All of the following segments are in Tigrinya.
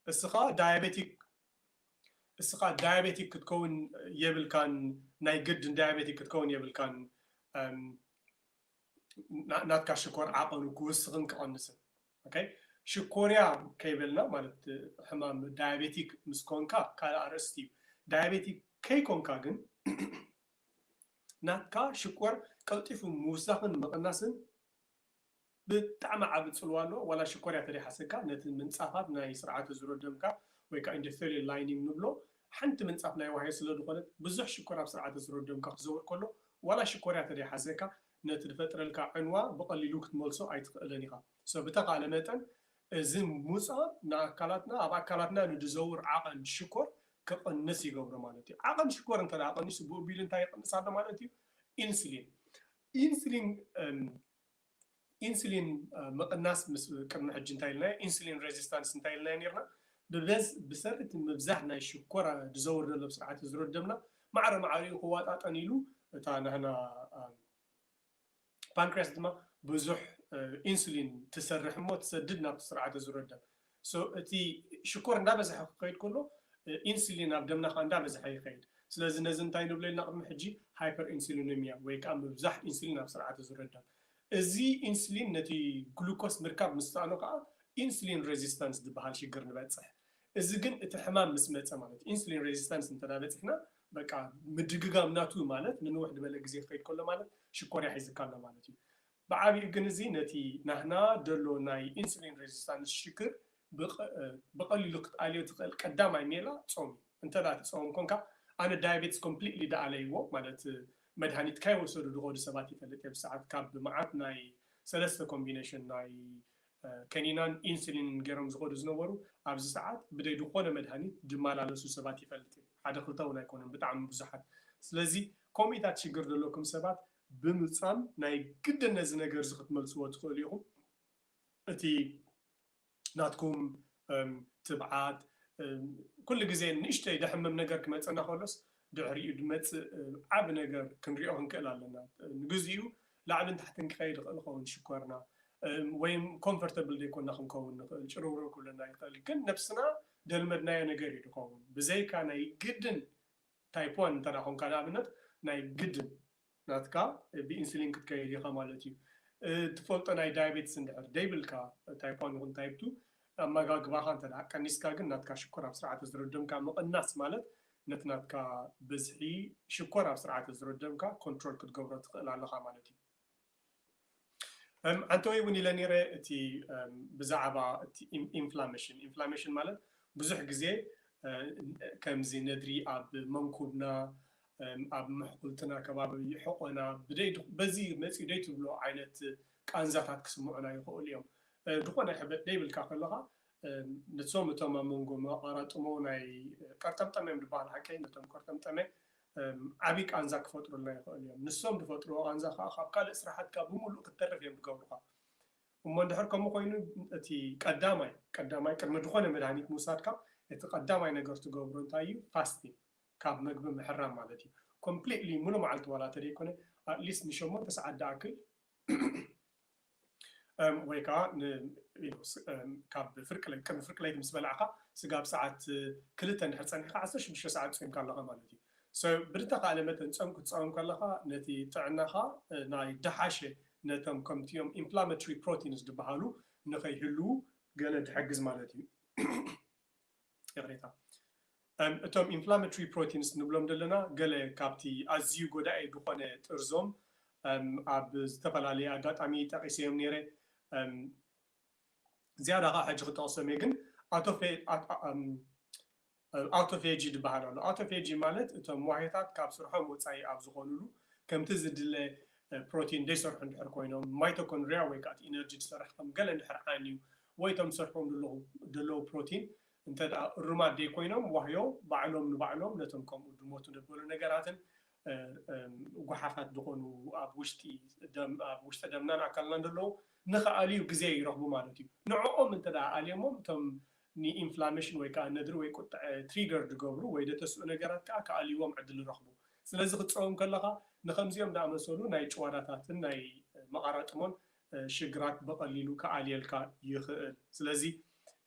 እስኻ ዳያቤቲክ እስኻ ዳያቤቲክ ክትከውን የብልካን ናይ ግድን ዳያቤቲክ ክትከውን የብልካን ናትካ ሽኮር ዓቐኑ ክውስኽን ክቐንስን ኦኬ ሽኮርያ ከይበልና ማለት ሕማም ዳያቤቲክ ምስ ኮንካ ካልእ ኣርእስቲ እዩ ዳያቤቲክ ከይኮንካ ግን ናትካ ሽኮር ቀልጢፉ ምውሳኽን ምቕናስን ብጣዕሚ ዓቢ ጽልዋ ኣለዎ ዋላ ሽኮርያ ተደይሓሰካ ነቲ ምንጻፋት ናይ ስርዓተ ዝሮ ደምካ ወይ ከኣ ኢንደተርየል ላይኒንግ ንብሎ ሓንቲ ምንጻፍ ናይ ዋህዮ ስለ ድኾነት ብዙሕ ሽኮር ኣብ ስርዓተ ዝሮ ደምካ ክዘውር ከሎ ዋላ ሽኮርያ ተደይሓሰካ ነቲ ድፈጥረልካ ዕንዋ ብቀሊሉ ክትመልሶ ኣይትኽእልን ኢኻ so ብተኻእለ መጠን እዚ ሙጻ ንኣካላትና ኣብ ኣካላትና ንድዘውር ዓቐን ሽኮር ክቕንስ ይገብሮ ማለት እዩ ዓቐን ሽኮር እንተ ቀኒሱ ብኡቢሉ እንታይ ይቕንስ ኣሎ ማለት እዩ ኢንስሊን ኢንሱሊን ምቕናስ ምስ ቅድሚ ሕጂ እንታይ ኢልናዮ ኢንሱሊን ረዚስታንስ እንታይ ኢልናዮ ኔርና ብበዝ ብሰሪ እቲ ምብዛሕ ናይ ሽኮር ዝዘውር ዘሎ ኣብ ስርዓተ ዝሮ ደምና ማዕረ ማዕሪኡ ክዋጣጠን ኢሉ እታ ናህና ፓንክርያስ ድማ ብዙሕ ኢንሱሊን ትሰርሕ እሞ ትሰድድ ናብቲ ስርዓተ ዝሮ ደም so እቲ ሽኮር እንዳበዘሐ ክኸይድ ከሎ ኢንሱሊን ኣብ ደምና ከኣ እንዳበዘሐ ይኸይድ ስለዚ ነዚ እንታይ ንብሎ ኢልና ቅድሚ ሕጂ ሃይፐርኢንሱሊነሚያ ወይ ከኣ ምብዛሕ ኢንሱሊን ኣብ ስርዓተ ዙረ ደም እዚ ኢንሱሊን ነቲ ግሉኮስ ምርካብ ምስ ሰኣኖ ከኣ ኢንሱሊን ረዚስታንስ ዝበሃል ሽግር ንበጽሕ እዚ ግን እቲ ሕማም ምስ መጸ ማለት እዩ ኢንሱሊን ረዚስታንስ እንተ በጺሕና በቃ ምድግጋም ናቱ ማለት ንንውሕ ድበለ ግዜ ክኸይድ ከሎ ማለት ሽኮርያ ሒዝካ ኣሎ ማለት እዩ ብዓቢኡ ግን እዚ ነቲ ናህና ደሎ ናይ ኢንሱሊን ረዚስታንስ ሽግር ብቐሊሉ ክትኣልዮ ትኽእል ቀዳማይ ሜላ ጾም እዩ። እንተ ትጸውም ኮንካ፣ ኣነ ዳያቤትስ ኮምፕሊትሊ ደኣለይዎ ማለት መድሃኒት ካይወሰዱ ድኸዱ ሰባት ይፈልጥ እየ ብሰዓት ካብ መዓት ናይ ሰለስተ ኮምቢነሽን ናይ ከኒናን ኢንሱሊንን ገይሮም ዝኸዱ ዝነበሩ ኣብዚ ሰዓት ብደይ ድኾነ መድሃኒት ድማላለሱ ሰባት ይፈልጥ እየ ሓደ ክልተ ውን ኣይኮነን ብጣዕሚ ብዙሓት ስለዚ ኮምኢታት ሽግር ደለኩም ሰባት ብምጻም ናይ ግድን ነዚ ነገርዚ ክትመልስዎ ትኽእሉ ኢኹም። እቲ ናትኩም ትብዓት ኩሉ ግዜ ንእሽተይ ደሕምም ነገር ክመጸና ከሎስ ድሕሪኡ ድመጽእ ዓቢ ነገር ክንሪኦ ክንክእል ኣለና። ንግዚኡ ላዕልን ታሕትን ክኸይድ ይኽእል ይኸውን ሽኮርና ወይ ኮንፈርተብል ዘይኮና ክንከውን ንኽእል ጭርውርው ክብለና ይኽእል ግን ነብስና ደልመድናዮ ነገር እዩ ድኸውን ብዘይካ ናይ ግድን ታይፕ ዋን እንተ ኾንካ ንኣብነት ናይ ግድን ናትካ ብኢንሱሊን ክትከይድ ኢኻ ማለት እዩ። እትፈልጦ ናይ ዳያቤትስ እንድሕር ደይብልካ ታይፕ ዋን ይኹን ታይፕ ቱ ኣመጋግባኻ እንተ ቀኒስካ ግን ናትካ ሽኮር ኣብ ስርዓተ ዝሮደምካ ምቕናስ ማለት ነቲ ናትካ ብዝሒ ሽኮር ኣብ ስርዓተ ዝሮደምካ ኮንትሮል ክትገብሮ ትኽእል ኣለኻ ማለት እዩ። ዓንተወይ እውን ኢለ ነይረ እቲ ብዛዕባ እቲ ኢንፍላሜሽን ኢንፍላሜሽን ማለት ብዙሕ ግዜ ከምዚ ነድሪ ኣብ መንኩብና ኣብ ምሕኩልትና ከባቢ ሕቆና በዚ መፅኡ ደይ ትብሎ ዓይነት ቃንዛታት ክስምዑና ይኽእሉ እዮም ዝኾነ ሕበጥ ደይብልካ ከለኻ ንሶም እቶም ኣብ መንጎ መቐራጥሞ ናይ ቀርጠምጠመ እዮም ዝበሃል ሓቀይ ነቶም ቀርጠምጠመ ዓቢ ቃንዛ ክፈጥሩልና ይኸእሉ እዮም። ንሶም ድፈጥርዎ ቃንዛ ከኣ ካብ ካልእ ስራሓትካ ብምሉእ ክትተርፍ እዮም ድገብሩኻ። እሞ እንድሕር ከምኡ ኮይኑ እቲ ቀዳማይ ቀዳማይ ቅድሚ ድኾነ መድሃኒት ምውሳድካ እቲ ቀዳማይ ነገር ትገብሮ እንታይ እዩ ፋስቲንግ ካብ መግቢ ምሕራም ማለት እዩ። ኮምፕሊትሊ ሙሉእ መዓልቲ ዋላ ተደይኮነ ኣትሊስት ንሸሞንተ ሰዓት ድኣክል ወይ ከኣ ካብ ፍርቂ ለይቲ ቅድሚ ፍርቂ ለይቲ ምስ በላዕካ ስጋብ ሰዓት ክልተ እንድሕር ጸኒሕካ ዓሰርተ ሽዱሽተ ሰዓት ጾይምካ ኣለኻ ማለት እዩ። So ብድተኻእለ መጠን ጾም ክትጸውም ከለኻ ነቲ ጥዕናኻ ናይ ደሓሸ ነቶም ከምቲኦም Inflammatory Proteins ድበሃሉ ንኸይህልዉ ገለ ድሕግዝ ማለት እዩ። ይቕሬታ እቶም ኢንፍላመትሪ ፕሮቲንስ ንብሎም ዘለና ገለ ካብቲ ኣዝዩ ጎዳኢ ዝኾነ ጥርዞም ኣብ ዝተፈላለየ ኣጋጣሚ ጠቒሰዮም ነይረ ዝያዳ ኸኣ ሕጂ ክጠቕሶም እየ ግን ኣውቶፌጂ ዝበሃል ኣሎ ኣውቶፌጂ ማለት እቶም ዋህዮታት ካብ ስርሖም ወጻኢ ኣብ ዝኾኑሉ ከምቲ ዝድለ ፕሮቲን ዘይሰርሑ እንድሕር ኮይኖም ማይቶኮንድሪያ ወይ ከኣ እቲ ኢነርጂ ዝሰርሕ ከም ገለ እንድሕር ዓንዩ ወይ እቶም ዝሰርሕዎም ዘለኹ ደለዉ ፕሮቲን እንተ ደኣ እሩማት ደይኮይኖም ዋህዮ ባዕሎም ንባዕሎም ነቶም ከምኡ ድሞቱ ደበሉ ነገራትን ጉሓፋት ድኾኑ ኣብ ውሽጢ ደም ኣብ ውሽጢ ደምናን ኣካልናን ደለዉ ንኽኣልዩ ግዜ ይረኽቡ ማለት እዩ። ንዕኦም እንተ ደኣ ኣልዮሞም እቶም ንኢንፍላመሽን ወይ ከኣ ነድሪ ወይ ቁጥዐ ትሪገር ድገብሩ ወይ ደተስኡ ነገራት ከኣ ክኣልይዎም ዕድል ይረኽቡ። ስለዚ ክትጸውም ከለኻ ንኸምዚኦም ደኣመሰሉ ናይ ጭዋዳታትን ናይ መቓራጥሞን ሽግራት ብቐሊሉ ክኣልየልካ ይኽእል። ስለዚ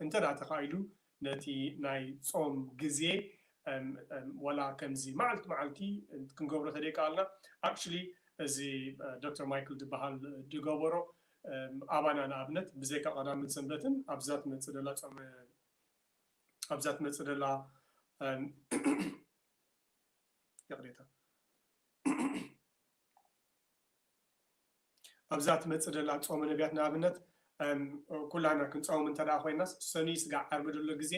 እንተድኣ ተኻኢሉ ነቲ ናይ ጾም ግዜ ዋላ ከምዚ መዓልቲ መዓልቲ ክንገብሮ ተደይከኣልና actually እዚ ዶክተር ማይክል ድበሃል ድገበሮ ኣባና ንኣብነት ብዘይካ ቀዳምን ሰንበትን ኣብዛ ትመጽእ ደላ ጾመ ኣብዛ ትመጽእ ደላ ይቕሬታ ኣብዛ ትመጽእ ዘላ ጾመ ነብያት ንኣብነት ኩላህና ክንጸውም እንተ ደኣ ኮይናስ ሰኑይ ስጋዕ ዓርቢ ዘሎ ግዜ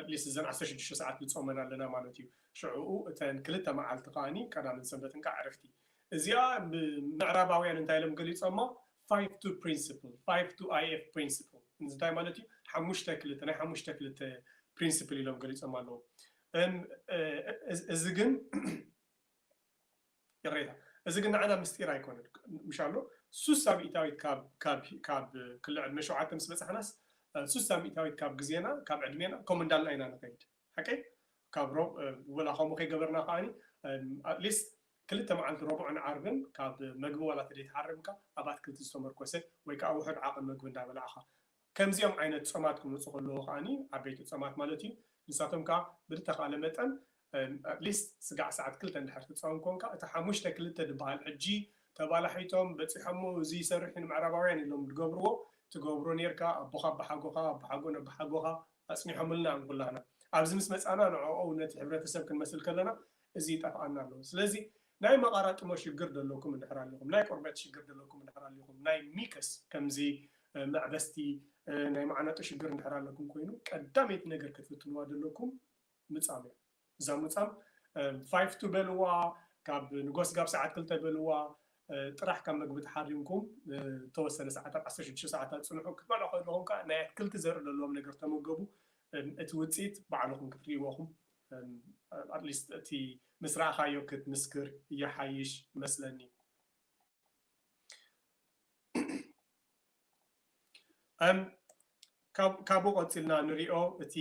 at least እዘን ዓሰርተ ሽዱሽተ ሰዓት ንጾመን ኣለና ማለት እዩ ሽዑኡ እተን ክልተ መዓልቲ ከኣ ቀዳምን ሰንበትን ከኣ ዕረፍቲ እዚኣ ምዕራባውያን እንታይ ኢሎም ገሊጾማ five two principle five two IF principle እንታይ ማለት እዩ ሓሙሽተ ክልተ ናይ ሓሙሽተ ክልተ ፕሪንስፕል ኢሎም ገሊጾም ኣለዉ እዚ ግን ይቕሬታ እዚ ግን ንዓና ምስጢር ኣይኮነን ምሻሎ ሱሳ ሚእታዊት ካብ ካብ ካብ ክሊ ዕድመ ሸውዓተ ምስ በጻሕናስ ሱሳ ሚእታዊት ካብ ግዜና ካብ ዕድሜና ከምኡ እንዳልና ኢና ንኸይድ ሓቀይ ካብ ሮብ ወላ ከምኡ ከይገበርና ከዓኒ ኣትሊስት ክልተ መዓልቲ ረቡዕን ዓርብን ካብ መግቢ ዋላ ተደይትሓርምካ ኣብ ኣትክልቲ ዝተመርኮሰ ወይ ከዓ ውሑድ ዓቕን መግቢ እንዳበላዕኻ ከምዚኦም ዓይነት ጾማት ክመጹ ከለዉ ከኣ፣ ዓበይቲ ጾማት ማለት እዩ፣ ንሳቶም ከኣ ብልተኻእለ መጠን at least ስጋዕ ሰዓት ክልተ እንድሕር ትጸውም ኮንካ እቲ ሓሙሽተ ክልተ ድበሃል ሕጂ ተባላሒቶም በጺሖሞ እዚ ይሰርሕ እዩ ንምዕራባውያን ኢሎም ድገብርዎ ትገብሮ ኔርካ ኣቦኻ ኣባሓጎኻ ኣባሓጎን ኣባሓጎኻ ኣጽኒሖምልና እዮም ኩላህና ኣብዚ ምስ መጻና ንዕኦም ነቲ ሕብረተሰብ ክንመስል ከለና እዚ ይጠፍኣና ኣሎ ስለዚ ናይ መቓራጥሞ ሽግር ደለኩም እንድሕር ኣሊኹም ናይ ቆርበት ሽግር ደለኩም እንድሕር ኣሊኹም ናይ ሚከስ ከምዚ መዕበስቲ ናይ ማዕነጡ ሽግር እንድሕር ኣለኩም ኮይኑ ቀዳመይቲ ነገር ክትፍትንዋ ደለኩም ምጻም እያ እዛ ምጻም ፋይፍ ቱ በልዋ ካብ ንጎስ ጋብ ሰዓት ክልተ በልዋ ጥራሕ ካብ መግቢ ተሓሪምኩም ተወሰነ ሰዓታት ዓሰርተ ሽዱሽተ ሰዓታት ጽንሑ ክትበልዑ ከለኹም ከዓ ናይ ኣትክልቲ ዘርኢ ዘለዎም ነገር ተመገቡ እቲ ውጽኢት ባዕልኹም ክትርእይዎ ኢኹም at least እቲ ምስ ረኣኻዮ ክትምስክር ይሓይሽ መስለኒ። ካብኡ ቀጺልና ንሪኦ እቲ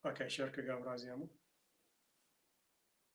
ኦኬ ሸር ክገብራ እዚኣ'ሞ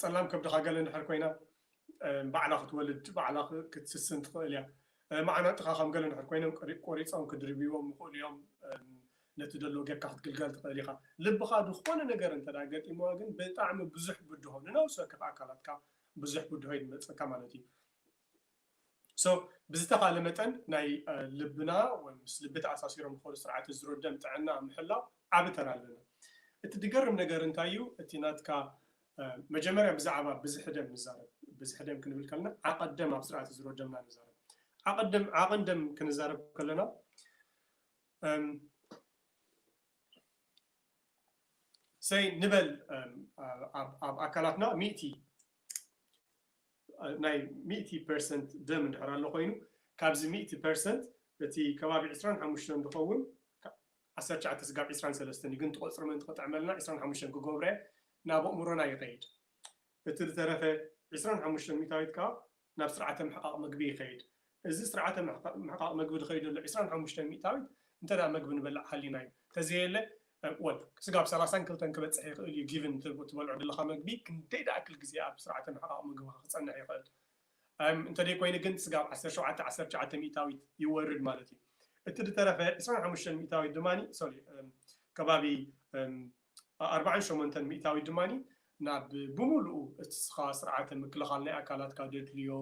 ጸላም ከብድኻ ገለ እንድሕር ኮይና ባዕላ ክትወልድ ባዕላ ክትስስን ትኽእል እያ። መዓናጥኻ ከም ገለ እንድሕር ኮይኖም ቆሪጾም ክድርብይዎም ይኽእሉ እዮም። ነቲ ደሎ ጌርካ ክትግልገል ትኽእል ኢኻ። ልብኻ ዝኾነ ነገር እንተ ድኣ ገጢምዋ ግን ብጣዕሚ ብዙሕ ብድሆ ንነብሲ ወከፍ ኣካላትካ ብዙሕ ብድሆ እዩ ዝመጸካ ማለት እዩ። So ብዝተኻለ መጠን ናይ ልብና ወይ ምስ ልቢ ተኣሳሲሮም ዝኸዱ ስርዓተ ዝሮ ደም ጥዕና ኣብ ምሕላው ዓቢ ተራ ኣለና። እቲ ድገርም ነገር እንታይ እዩ እቲ ናትካ መጀመርያ ብዛዕባ ብዝሒ ደም ንዛረብ ብዝሒ ደም ክንብል ከለና ዓቐት ደም ኣብ ስርዓተ ዝሮ ደምና ንዛረብ ዓቐት ደም ዓቕን ደም ክንዛረብ ከለና ሰይ ንበል ኣብ ኣካላትና ሚእቲ ናይ ሚእቲ ፐርሰንት ደም እንድሕር ኣሎ ኮይኑ ካብዚ ሚእቲ ፐርሰንት እቲ ከባቢ ዕስራን ሓሙሽተን ዝኸውን ዓሰርተ ትሽዓተ ስጋብ ዕስራን ሰለስተን እዩ ግን እቲ ቁጽሪ ምእንቲ ክጥዕመልና ዕስራን ሓሙሽተን ክገብሮ እየ ናብ ኣእምሮና ይኸይድ እቲ ዝተረፈ ዕስራን ሓሙሽተን ሚታዊት ከኣ ናብ ስርዓተ ምሕቓቕ ምግቢ ይኸይድ እዚ ስርዓተ ምሕቓቕ መግቢ ዝኸይድ ዘሎ ዕስራን ሓሙሽተን ሚእታዊት እንተ መግቢ ንበልዕ ሃሊና እዩ። ተዘየለ ወል ስጋብ ሰላሳን ክልተን ክበጽሕ ይኽእል እዩ ጊቭን ትበልዖ ዘለኻ መግቢ ክንደይ ድኣክል ግዜ ኣብ ስርዓተ ምሕቓቕ መግብኻ ክጸንሕ ይኽእል እም እንተ ዘይኮይኑ ግን ስጋብ ዓሰርተ ሸውዓተ ዓሰርተ ትሽዓተ ሚእታዊት ይወርድ ማለት እዩ። እቲ ዝተረፈ ዕስራን ሓሙሽተን ሚእታዊት ድማ ሶሊ እም ከባቢ እም ኣርባዓን ሸሞንተን ሚእታዊት ድማ ናብ ብሙሉኡ እትስኻ ስርዓተ ምክልኻል ናይ ኣካላትካ ደድልዮ፣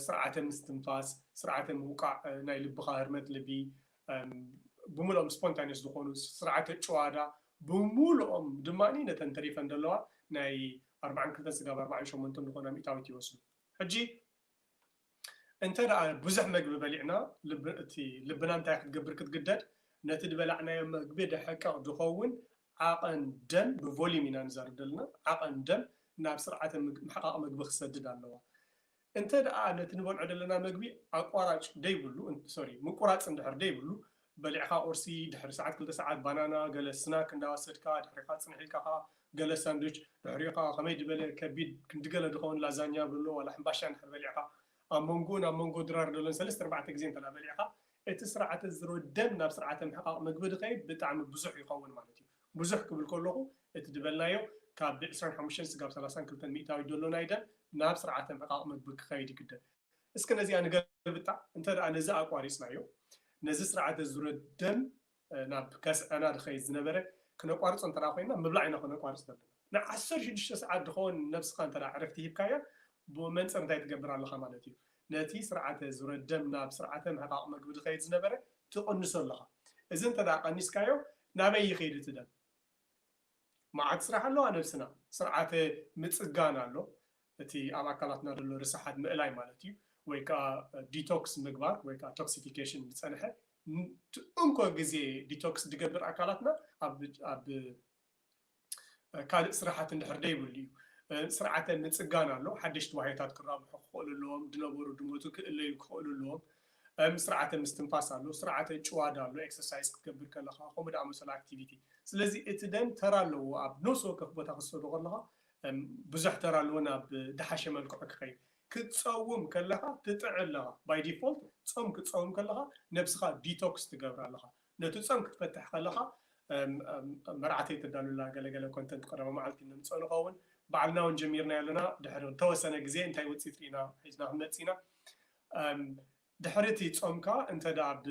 ስርዓተ ምስትንፋስ፣ ስርዓተ ምውቃዕ ናይ ልብኻ ህርመት ልቢ፣ ብሙሉኦም ስፖንታኒየስ ዝኾኑ ስርዓተ ጭዋዳ ብሙሉኦም ድማ ነተን ተሪፈን ዘለዋ ናይ ኣርባዓን ክልተን ስጋብ ኣርባዓን ሸሞንተን ዝኾና ሚእታዊት ይወስዱ። ሕጂ። እንተ ብዙሕ መግቢ በሊዕና ልብና እንታይ ክትገብር ክትግደድ? ነቲ ዝበላዕናዮ መግቢ ደሕቀቕ ዝኸውን ዓቐን ደም፣ ብቮሊዩም ኢና ንዛረብ ዘለና፣ ዓቐን ደም ናብ ስርዓተ ምሕቓቕ መግቢ ክሰድድ ኣለዋ። እንተ ነቲ ንበልዖ ዘለና መግቢ ኣቋራጭ ዘይብሉ፣ ሶሪ ምቁራጽ እንድሕር ዘይብሉ፣ በሊዕኻ ቁርሲ፣ ድሕሪ ሰዓት ክልተ ሰዓት ባናና፣ ገለ ስናክ እንዳወሰድካ፣ ድሕሪኻ ጽንሕ ኢልካ ከኣ ገለ ሳንዱች፣ ድሕሪኡ ከኣ ከመይ ድበለ ከቢድ ክንዲ ገለ ድኸውን ላዛኛ በሎ ዋላ ሕምባሻ እንድሕር በሊዕኻ፣ ኣብ መንጎኡን ኣብ መንጎ ድራር ደሎን ሰለስተ ኣርባዕተ ግዜ እንተ በሊዕኻ፣ እቲ ስርዓተ ዝሮ ደም ናብ ስርዓተ ምሕቃቕ ምግቢ ድኸይድ ብጣዕሚ ብዙሕ ይኸውን ማለት እዩ። ብዙሕ ክብል ከለኹ እቲ ድበልናዮ ካብ ብ ዕስራን ሓሙሽተን ስጋብ ሰላሳን ክልተን ሚእታዊት ደሎ ናይ ደም ናብ ስርዓተ ምሕቃቕ ምግቢ ክኸይድ ይግደድ። እስከ ነዚኣ ንገልብጣ፣ እንተ ነዚ ኣቋሪጽናዮ፣ ነዚ ስርዓተ ዙረ ደም ናብ ከስዐና ድኸይድ ዝነበረ ክነቋርጾ እንተ ኮይና፣ ምብላዕ ኢና ከነቋርጽ ዘለና። ን ዓሰርተ ሽዱሽተ ሰዓት ድኸውን ነብስኻ እንተ ዕረፍቲ ሂብካያ፣ ብመንጽር እንታይ ትገብር ኣለኻ ማለት እዩ፣ ነቲ ስርዓተ ዙረ ደም ናብ ስርዓተ ምሕቃቕ መግቢ ድኸይድ ዝነበረ ትቕንሶ ኣለኻ። እዚ እንተ ቀኒስካዮ፣ ናበይ ይኸይድ እቲ ደም? መዓት ስራሕ ኣሎ ኣብ ነብስና ስርዓተ ምጽጋን ኣሎ እቲ ኣብ ኣካላትና ዘሎ ርስሓት ምእላይ ማለት እዩ ወይ ከኣ ዲቶክስ ምግባር ወይ ከኣ ቶክሲፊከሽን ዝጸንሐ ንቲ እንኮ ግዜ ዲቶክስ ድገብር ኣካላትና ኣብ ኣብ ካልእ ስራሓት እንድሕር ደይብሉ እዩ ስርዓተ ምጽጋን ኣሎ ሓደሽቲ ዋህዮታት ክራብሑ ክኽእሉ ኣለዎም ድነበሩ ድሞቱ ክእለዩ ክኽእሉ ኣለዎም እም ስርዓተ ምስትንፋስ ኣሎ፣ ስርዓተ ጭዋዳ ኣሎ፣ ኤክሰርሳይዝ ክትገብር ከለኻ ከምኡ ዝኣመሰሉ ኣክቲቪቲ። ስለዚ እቲ ደም ተራ ኣለዎ ኣብ ነብሲ ወከፍ ቦታ ክትሰዶ ከለኻ እም ብዙሕ ተራ ኣለዎ ናብ ድሓሸ መልክዑ ክኸይድ። ክትጸውም ከለኻ ትጥዒ ኣለኻ ባይ ዲፎልት ጾም ክትጸውም ከለኻ ነብስኻ ዲቶክስ ትገብራ ኣለኻ። ነቲ ጾም ክትፈትሕ ከለኻ እም እም መርዓተይ ተዳሉ ኣላ ገለ ገለ ኮንተንት ቀዳማይ መዓልቲ ነምጽኦ ንኸውን። በዓልና ውን ጀሚርናዮ ኣለና ድሕሪ ተወሰነ ግዜ እንታይ ውጺኢት ርኢና ሒዝና ክንመጽእ ኢና። ድሕሪ እቲ ጾምካ እንተ ደኣ ብ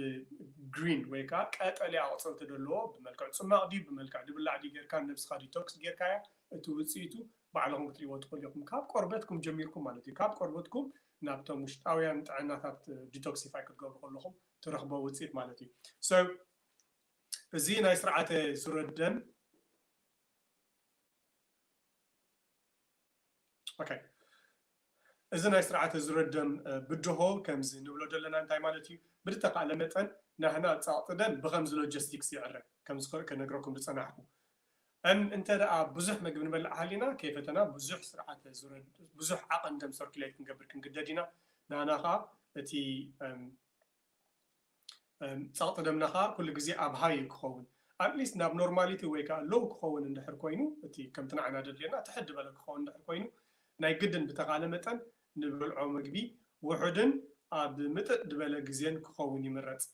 Green ወይ ከኣ ቀጠልያ ኣቑጽልቲ ደለዎ ብመልክዕ ጽማቕ ድዩ ብመልክዕ ድብላዕ ድዩ ጌርካ ንነብስኻ Detox ጌርካያ እቲ ውጽኢቱ ባዕልኹም ክትርእይዎ ትኽእሉ ኢኹም ካብ ቆርበትኩም ጀሚርኩም ማለት እዩ ካብ ቆርበትኩም ናብቶም ውሽጣውያን ጥዕናታት Detoxify ክትገብሩ ከለኹም ትረኽብዎ ውጽኢት ማለት እዩ so እዚ ናይ ስርዓተ ሱረደም። ኦከይ እዚ ናይ ስርዓት እዚ ረደም ብድሆ ከምዚ ንብሎ ደለና እንታይ ማለት እዩ ብድተካእለ መጠን ናህና ጸቅጢ ደም ብከምዚ ሎጀስቲክስ ይዕረ ከምዝክእ ክነግረኩም ድጸናሕኩ እም እንተ ደኣ ብዙሕ መግቢ ንበልዕ ሃሊና ከይፈተና ብዙሕ ስርዓተ ዙረድ ብዙሕ ዓቀን ደም ሰርኩሌት ክንገብር ክንግደድ ኢና ናህና ከኣ እቲ እም ጸቕጢ ደምና ከኣ ኩሉ ግዜ ኣብ ሃይ እዩ ክኸውን። ኣት ሊስት ናብ ኖርማሊቲ ወይ ከኣ ሎው ክኸውን እንድሕር ኮይኑ፣ እቲ ከምቲ ንዓና ደድልየና ትሕት ዝበለ ክኸውን እንድሕር ኮይኑ፣ ናይ ግድን ብተኻእለ መጠን ንበልዖ መግቢ ውሑድን ኣብ ምጥጥ ድበለ ግዜን ክኸውን ይምረጽ።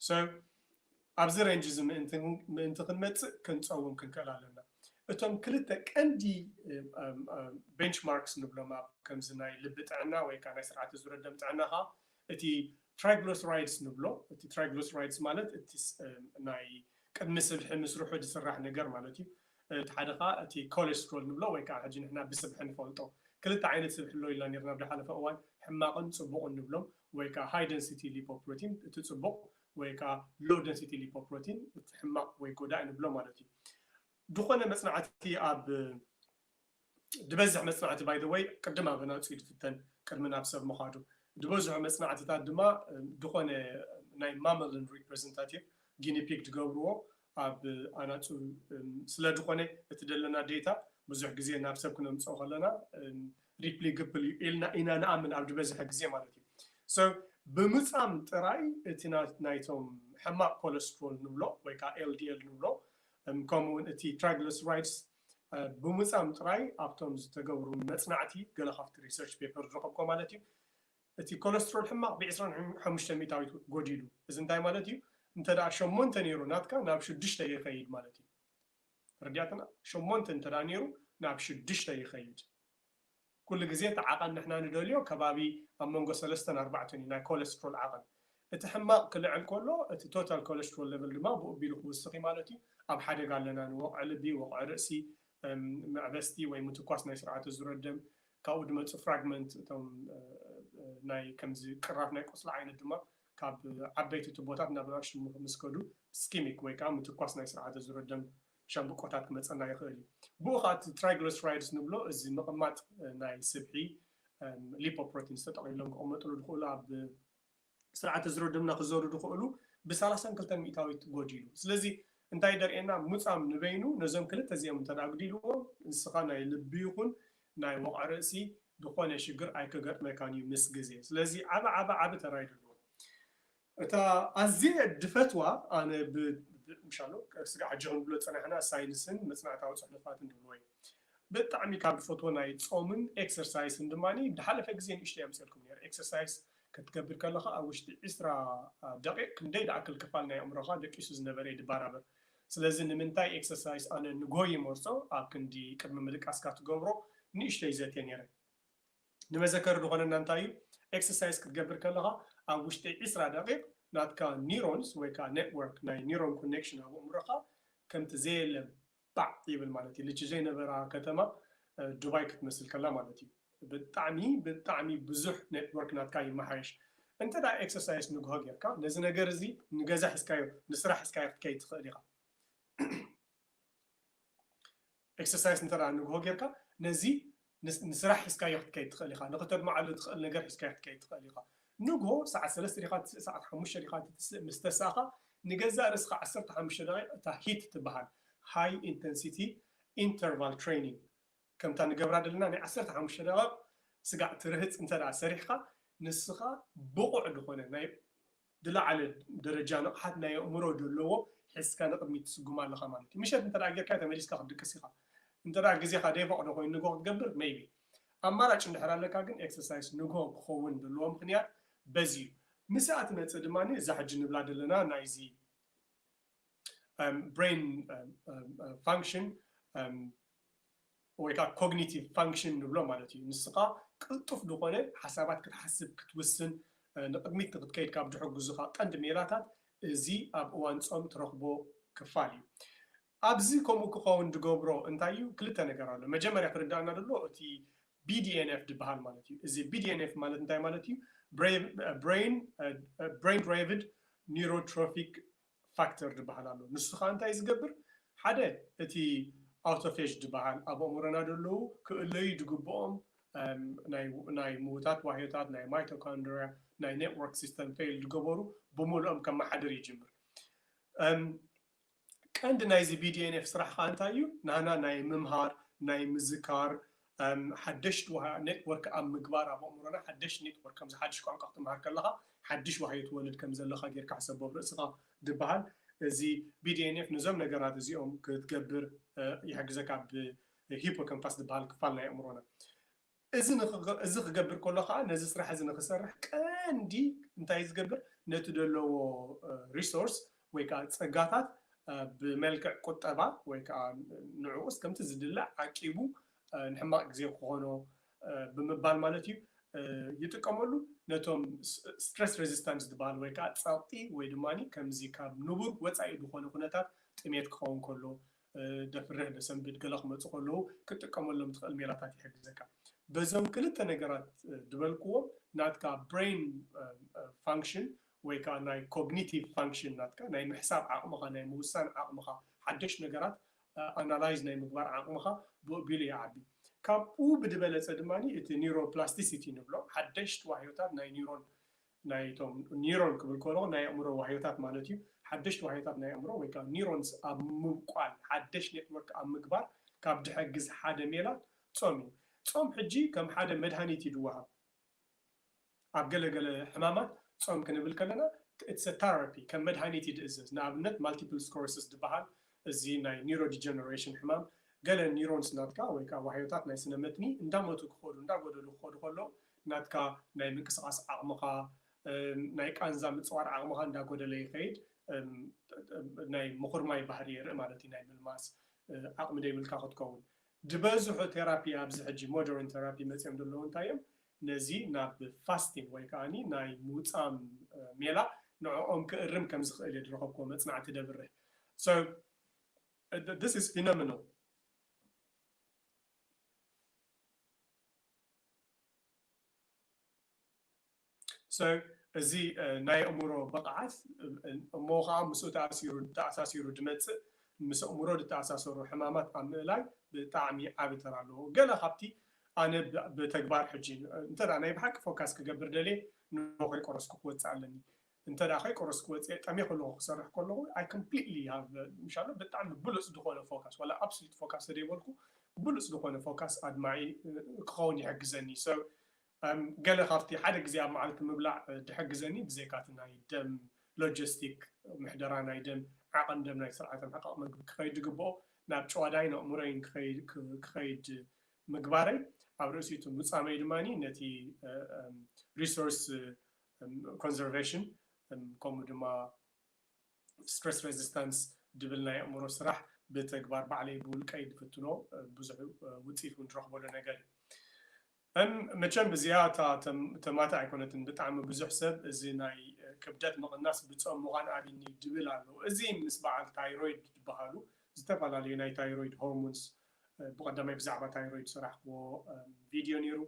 So ኣብዚ ሬንጅ እዚ ምእንቲ ምእንቲ ክንመጽእ ክንጸውም ክንክእል ኣለና። እቶም ክልተ ቀንዲ ቤንች ማርክስ ንብሎም ኣብ ከምዚ ናይ ልቢ ጥዕና ወይ ከኣ ናይ ስርዓተ ዙረት ደም ጥዕና ከኣ እቲ ትራይግሎስራይድስ ንብሎ እቲ ትራይግሎስራይድስ ማለት እቲ ናይ ቅድሚ ስብሒ ምስርሑ ዝስራሕ ነገር ማለት እዩ። እቲ ሓደ ከኣ እቲ ኮሌስትሮል ንብሎ ወይ ከኣ ሕጂ ንሕና ብስብሒ ንፈልጦ ክልተ ዓይነት ስብሒ ኣሎ ኢልና ኔርና ኣብ ዝሓለፈ እዋን ሕማቕን ጽቡቕን ንብሎም ወይ ከኣ ሃይ ደንሲቲ ሊፖፕሮቲን እቲ ጽቡቕ ወይ ከኣ ሎው ደንሲቲ ሊፖፕሮቲን እቲ ሕማቕ ወይ ጎዳኢ ንብሎ ማለት እዩ። ዝኾነ መጽናዕቲ ኣብ ድበዝሕ መጽናዕቲ ባይ ዘ ወይ ቅድም ኣብ ኣናጹ ድፍተን ቅድሚ ናብ ሰብ ምዃዱ ድበዝሑ መጽናዕትታት ድማ ድኾነ ናይ ማመልን ሪፕረዘንታቲቭ ጊኒ ፒግ ድገብርዎ ኣብ ኣናጹ ስለ ድኾነ እቲ ደለና ዴታ ብዙሕ ግዜ ናብ ሰብ ክነምጽኦ ከለና ሪፕሊ ግፕል እዩ ኢልና ኢና ንኣምን ኣብ ድበዝሐ ግዜ ማለት እዩ ሶ ብምጻም ጥራይ እቲ ናይቶም ሕማቅ ኮለስትሮል ንብሎ ወይ ከዓ ኤልዲኤል ንብሎ ከምኡውን እቲ ትራይግለስራይድስ ብምጻም ጥራይ ኣብቶም ዝተገብሩ መጽናዕቲ ገለ ካብቲ ሪሰርች ፔፐር ዝረኸብኩዎ ማለት እዩ እቲ ኮለስትሮል ሕማቕ ብ ዕስራን ሓሙሽተን ሚእታዊት ጎዲሉ እዚ እንታይ ማለት እዩ እንተ ሸሞንተ ኔሩ ናትካ ናብ ሽዱሽተ ይኸይድ ማለት እዩ ተረዲኣትና ሸሞንተ እንተ ኔሩ ናብ ሽዱሽተ ይኸይድ ኩሉ ግዜ እቲ ዓቐን ንሕና ንደልዮ ከባቢ ኣብ መንጎ ሰለስተን ኣርባዕተን እዩ ናይ ኮለስትሮል ዓቐን። እቲ ሕማቕ ክልዕል ከሎ እቲ ቶታል ኮለስትሮል ለቨል ድማ ብኡ ኣቢሉ ክውስኽ እዩ ማለት እዩ። ኣብ ሓደጋ ኣለና ንወቕዒ ልቢ፣ ወቕዒ ርእሲ፣ መዕበስቲ ወይ ምትኳስ ናይ ስርዓተ ዙረት ደም ካብኡ ድማ እፅ ፍራግመንት እቶም ናይ ከምዚ ቅራፍ ናይ ቁስሊ ዓይነት ድማ ካብ ዓበይቲ ቱቦታት ናብ ንኣሽቱ ምስ ከዱ እስኪሚክ ወይ ከዓ ምትኳስ ናይ ስርዓተ ዙረት ደም ሻምብቆታት ክመጸና ይኽእል እዩ። ብኡ ኸኣ እቲ ትራይግለስራይድስ ንብሎ እዚ ምቕማጥ ናይ ስብሒ ሊፖፕሮቲንስ ተጠቕሊሎም ክቕመጥሉ ዝኽእሉ ኣብ ስርዓተ ዝሮ ደምና ክዘሩ ዝኽእሉ ብሰላሳን ክልተን ሚእታዊት ጎዲሉ። ስለዚ እንታይ እዩ ዘርእየና ሙጻም ንበይኑ ነዞም ክልተ እዚኦም እንተ ኣጉዲልዎም ንስኻ ናይ ልቢ ይኹን ናይ ወቕዒ ርእሲ ዝኾነ ሽግር ኣይከገጥመካን እዩ ምስ ግዜ። ስለዚ ዓቢ ዓቢ ዓቢ ተራ እዩ ዘለዎ። እታ ኣዝየ ድፈትዋ ኣነ ብ ምሻሎ ስጋዕ ኣጆኺ ንብሎ ዝጸናሕና ሳይንስን መጽናዕታዊ ጽሑፋትን ድብልዎ እዩ። ብጣዕሚ ካብ ድፈትዎ ናይ ጾምን ኤክሰርሳይስን ድማ ድሓለፈ ግዜ ንእሽተይ ኣምጺኤልኩም ኔረ ኤክሰርሳይስ ክትገብር ከለኻ ኣብ ውሽጢ ዕስራ ደቂቅ ክንደይ ድኣክል ክፋል ናይ ኣእምሮኻ ደቂሱ ዝነበረ እዩ ድባራበር ስለዚ ንምንታይ ኤክሰርሳይስ ኣነ ንጎይይ መርጾ ኣብ ክንዲ ቅድሚ ምድቃስካ ትገብሮ ንእሽተይ ዘትየ ኔረ ንመዘከሪ ድኾነና እንታይ እዩ ኤክሰርሳይዝ ክትገብር ከለኻ ኣብ ውሽጢ ዕስራ ደቂቅ ናትካ ኒሮንስ ወይ ከኣ ኔትወርክ ናይ ኒሮን ኮኔክሽን ኣብ ኣእምሮኻ ከምቲ ዘየለ ባዕ ይብል ማለት እዩ ልቺ ዘይነበራ ከተማ ዱባይ ክትመስል ከላ ማለት እዩ ብጣዕሚ ብጣዕሚ ብዙሕ ኔትወርክ ናትካ ይመሓየሽ እንተ ኤክሰርሳይዝ ንግሆ ጌርካ ነዚ ነገር እዚ ንገዛ ሒዝካዮ ንስራሕ ሒዝካዮ ክትከይድ ትኽእል ኢኻ። ኤክሰርሳይስ እንተ ንግሆ ጌርካ ነዚ ንስራሕ ሒዝካዮ ክትከይድ ትኽእል ኢኻ። ንኽተድምዓሉ ትኽእል ነገር ሒዝካዮ ክትከይድ ትኽእል ኢኻ። ንግሆ ሰዓት ሰለስተ ዲኻ ትትስእ ሰዓት ሓሙሽተ ዲኻ ትትስእ ምስ ተሳእኻ ንገዛእ ርእስኻ ዓሰርተ ሓሙሽተ ደቒቕ እታ ሂት ትበሃል ሃይ ኢንተንሲቲ ኢንተርቫል ትሬይኒንግ ከምታ ንገብራ ደለና ናይ ዓሰርተ ሓሙሽተ ደቐቕ ስጋዕ ትርህጽ እንተ ሰሪሕኻ ንስኻ ብቑዕ ዝኾነ ናይ ዝለዓለ ደረጃ ንቕሓት ናይ ኣእምሮ ደለዎ ሒዝካ ንቕድሚት ትስጉም ኣለኻ ማለት እዩ። ምሸት እንተ ደኣ ጌርካዮ ተመሊስካ ክትድቅስ ኢኻ። እንተ ደኣ ግዜኻ ዘይፈቕዶ ኮይኑ ንግሆ ክትገብር maybe። ኣማራጭ እንድሕር ኣለካ ግን ኤክሰርሳይስ ንግሆ ክኸውን ደለዎ ምኽንያት በዚ እዩ። ምስኣ ትመጽእ ድማ እዛ ሕጂ ንብላ ደለና ናይዚ። ብሬን ፋንክሽን ወይ ከዓ ኮግኒቲቭ ፋንክሽን ንብሎ ማለት እዩ። ንስኻ ቅልጡፍ ዝኾነ ሓሳባት ክትሓስብ ክትውስን ንቕድሚት ንክትከይድ ካብ ዝሕግዙኻ ቀንዲ ሜላታት እዚ ኣብ እዋን ፆም ትረኽቦ ክፋል እዩ። ኣብዚ ከምኡ ክኸውን ዝገብሮ እንታይ እዩ? ክልተ ነገር ኣሎ። መጀመርያ ክርዳእና ዘሎ እቲ BDNF ዝበሃል ማለት እዩ። እዚ BDNF ማለት እንታይ ማለት እዩ? ብሬን ድራይቭድ ኒውሮትሮፊክ ፋክተር ድበሃል ኣሎ ንሱ ከኣ እንታይ እዩ ዝገብር ሓደ እቲ ኣውቶፌጅ ድበሃል ኣብ ኣእምሮና ደለዉ ክእለዩ ድግብኦም ናይ ምዉታት ዋህዮታት ናይ ማይቶካንድርያ ናይ ኔትዎርክ ሲስተም ፌይል ድገበሩ ብሙሉኦም ከመሓድር ይጅምር ቀንዲ ናይዚ BDNF ስራሕ ከኣ እንታይ እዩ ናህና ናይ ምምሃር ናይ ምዝካር ሓደሽት ዋሃ ኔት ወርክ ኣብ ምግባር ኣብ ኣእምሮና ሓደሽት ኔት ወርክ ከምዚ ሓድሽ ቋንቋ ክትምሃር ከለኻ ሓድሽ ዋህዮ ትወልድ ከም ዘለኻ ጌርካ ሕሰቦ ኣብ ርእስኻ ድብሃል እዚ BDNF ነዞም ነገራት እዚኦም ክትገብር ይሕግዘካ ኣብ ሂፖከምፓስ ድብሃል ክፋል ናይ ኣእምሮና እዚ እዚ ክገብር ከሎ ከኣ ነዚ ስራሕ እዚ ንክሰርሕ ቀንዲ እንታይ ዝገብር ነቲ ደለዎ ሪሶርስ ወይ ከኣ ጸጋታት ብመልክዕ ቁጠባ ወይ ከኣ ንዕኡስ ከምቲ ዝድለ ዓቂቡ ንሕማቕ ግዜ ክኾኖ ብምባል ማለት እዩ ይጥቀመሉ ነቶም ስትረስ ሬዚስታንስ ዝበሃል ወይ ከኣ ጸቕጢ ወይ ድማ ከምዚ ካብ ንቡር ወጻኢ ዝኾነ ኩነታት ጥሜት ክኸውን ከሎ ደፍርህ ደሰንብድ ገለ ክመጹ ከለዉ ክትጥቀመሎም ትኽእል ሜላታት ይሕግዘካ በዞም ክልተ ነገራት ዝበልክዎም ናትካ ብሬን ፋንክሽን ወይ ከኣ ናይ ኮግኒቲቭ ፋንክሽን ናትካ፣ ናይ ምሕሳብ ዓቕምኻ፣ ናይ ምውሳን ዓቕምኻ፣ ሓደሽ ነገራት ኣናላይዝ ናይ ምግባር ዓቕምኻ ብኡ ኣቢሉ ይዓቢ። ካብኡ ብድበለጸ ድማ እቲ ኒውሮፕላስቲሲቲ እንብሎ፣ ሓደሽቲ ዋህዮታት ናይ ኒውሮን፣ ናይ እቶም ኒውሮን ክብል ከለኹ ናይ ኣእምሮ ዋህዮታት ማለት እዩ፣ ሓደሽቲ ዋህዮታት ናይ ኣእምሮ ወይ ከኣ ኒውሮንስ ኣብ ምብቋል፣ ሓደሽ ኔትወርክ ኣብ ምግባር ካብ ድሕግዝ ሓደ ሜላ ጾም እዩ። ጾም ሕጂ ከም ሓደ መድሃኒት እዩ ድወሃብ። ኣብ ገለ ገለ ሕማማት ጾም ክንብል ከለና it's a therapy ከም መድሃኒት እዩ ድእዘዝ ንኣብነት ማልቲፕል ስኮረስስ ድበሃል እዚ ናይ ኒሮዲጀነሬሽን ሕማም ገለ ኒሮንስ ናትካ ወይ ከኣ ዋህዮታት ናይ ስነ መትኒ እንዳሞቱ ክኸዱ እንዳጎደሉ ክኸዱ ከለዉ ናትካ ናይ ምንቅስቓስ ዓቕምኻ ናይ ቃንዛ ምጽዋር ዓቕምኻ እንዳጎደለ ይኸይድ ናይ ምኹርማይ ባህሪ የርኢ ማለት እዩ ናይ ምልማስ ዓቕሚ ደይብልካ ክትከውን ድበዝሑ ቴራፒ ኣብዚ ሕጂ ሞደርን ቴራፒ መጽዮም ደለዉ እንታይ እዮም ነዚ ናብ ፋስቲን ወይ ከኣ ናይ ምውጻም ሜላ ንዕኦም ክእርም ከም ዝኽእል እየ ዝረኸብክዎ መጽናዕቲ ደብርህ so this is phenomenal። so እዚ ናይ ኣእምሮ ብቕዓት እሞ ከኣ ምስኡ ተኣሲሩ ተኣሳሲሩ ዝመጽእ ምስ ኣእምሮ ዝተኣሳሰሩ ሕማማት ኣብ ምእላይ ብጣዕሚ ዓቢ ተራ ኣለዎ ገለ ካብቲ ኣነ ብተግባር ሕጂ እንተ ናይ ብሓቂ ፎካስ ክገብር ደልየ ን ከይቆረስኩ ክወጽእ ኣለኒ እንተ ከይቆረስኩ ወጽየ ጠሜ ከለኩ ክሰርሕ ከለኩ ኣይ ኮምፕሊትሊ ሃቭ ምሻሎ ብጣዕሚ ብሉጽ ድኮነ ፎካስ ዋላ ኣብስሉት ፎካስ ተደይ በልኩ ብሉጽ ድኮነ ፎካስ ኣድማዒ ክከውን ይሕግዘኒ ሶ ገለ ካብቲ ሓደ ግዜ ኣብ መዓልቲ ምብላዕ ድሕግዘኒ ብዘይካቲ ናይ ደም ሎጀስቲክ ምሕደራ ናይ ደም ዓቐን ደም ናይ ስርዓተ ምሕቃቕ መግቢ ክኸይድ ድግብኦ ናብ ጨዋዳይን ኣእምሮይን ክኸይድ ምግባረይ ኣብ ርእሲ እቲ ሙጻመይ ድማ ነቲ ሪሶርስ ኮንዘርቬሽን ከምኡ ድማ ስትረስ ሬዚስታንስ ድብል ናይ ኣእምሮ ስራሕ ብተግባር ባዕለይ ብውልቀይ ድፍትኖ ብዙሕ ውፅኢት እውን ድረኽበሉ ነገር እዩ መቸም እዚኣ እታ ተማታ ኣይኮነትን ብጣዕሚ ብዙሕ ሰብ እዚ ናይ ክብደት ምቕናስ ብፆም ምዃን ኣብኒ ድብል ኣሎ እዚ ምስ በዓል ታይሮይድ ዝበሃሉ ዝተፈላለዩ ናይ ታይሮይድ ሆርሞንስ ብቀዳማይ ብዛዕባ ታይሮይድ ዝሰራሕክዎ ቪድዮ ነይሩ።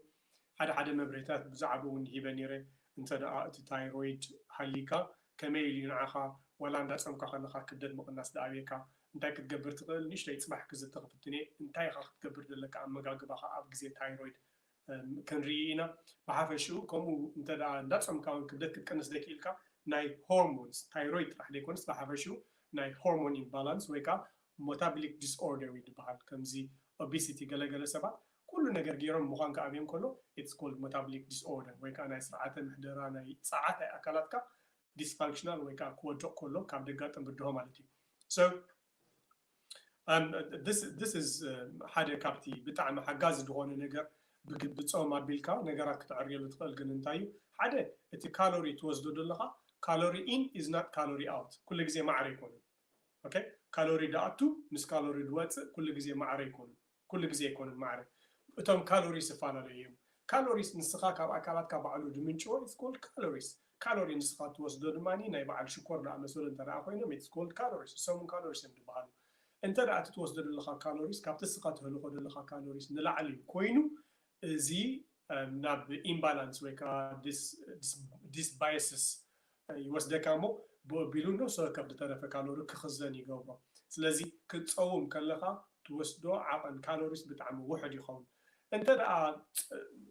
ሓደ ሓደ መብርሂታት ብዛዕብኡ እውን ሂበ ነይረ። እንተ ደኣ እቲ ታይሮይድ ሃልይካ ከመይ ኢሉ እዩ ንዓኻ ዋላ እንዳጸምካ ከለኻ ክብደት ምቕናስ ድኣብየካ? እንታይ ክትገብር ትኽእል? ንእሽተይ ጽባሕ ክዝቲ ክፍትን እየ። እንታይ ኢኻ ክትገብር ዘለካ ኣመጋግባኻ ኣብ ግዜ ታይሮይድ ክንርኢ ኢና። ብሓፈሽኡ ከምኡ እንተ ደኣ እንዳጸምካ እውን ክብደት ክትቅንስ ዘይክኢልካ ናይ ሆርሞንስ፣ ታይሮይድ ጥራሕ ዘይኮነስ ብሓፈሽኡ ናይ ሆርሞን ኢምባላንስ ወይ ከኣ ሞታብሊክ ዲስኦርደር እዩ ድበሃል ከምዚ ኦቢሲቲ ገለ ገለ ሰባት ኩሉ ነገር ጌሮም ምዃን ክኣብዮም ከሎ ኢትስ ኮልድ ሞታብሊክ ዲስኦርደር ወይ ከኣ ናይ ስርዓተ ምሕደራ ናይ ጸዓት ናይ ኣካላትካ ዲስፋንክሽናል ወይ ከኣ ክወድቕ ከሎ ካብ ደጋጥም ብድሆ ማለት እዩ so um this this is ሓደ ካብቲ ብጣዕሚ ሓጋዚ ዝኾነ ነገር ብጾም ኣቢልካ ነገራት ክትዕርየሉ ትኽእል ግን እንታይ እዩ ሓደ እቲ ካሎሪ ትወስዶ ዘለኻ ካሎሪ ኢን ኢዝ ናት ካሎሪ ኣውት ኩሉ ግዜ ማዕረ ኣይኮነን ኦኬ ካሎሪ ድኣቱ ምስ ካሎሪ ድወጽእ ኩሉ ግዜ ማዕረ ኣይኮኑን ኩሉ ግዜ ኣይኮኑን ማዕረ እቶም ካሎሪስ ዝፋላለዩ እዮም ካሎሪስ ንስኻ ካብ ኣካላትካ ባዕሉ ድምንጭዎ ኢትስ ኮልድ ካሎሪስ ካሎሪ ንስኻ ትወስዶ ድማ ናይ ባዓል ሽኮር ድኣመሰሉ እንተ ድኣ ኮይኖም ኢትስ ኮልድ ካሎሪስ ንሶም ውን ካሎሪስ እዮም ድባሃሉ እንተ ድኣ እቲ ትወስዶ ደለኻ ካሎሪስ ካብቲ ንስኻ ተህልኾ ደለኻ ካሎሪስ ንላዕሊ ኮይኑ እዚ ናብ ኢምባላንስ ወይ ከኣ ዲስ ዲስ ዲስባየስስ ይወስደካ እሞ ብኡ ኣቢሉ ንእሶ ከብድ ተረፈ ካሎሪ ክኽዘን ይገብሮ ስለዚ ክትጸውም ከለኻ ትወስዶ ዓቐን ካሎሪስ ብጣዕሚ ውሑድ ይኸውን እንተድኣ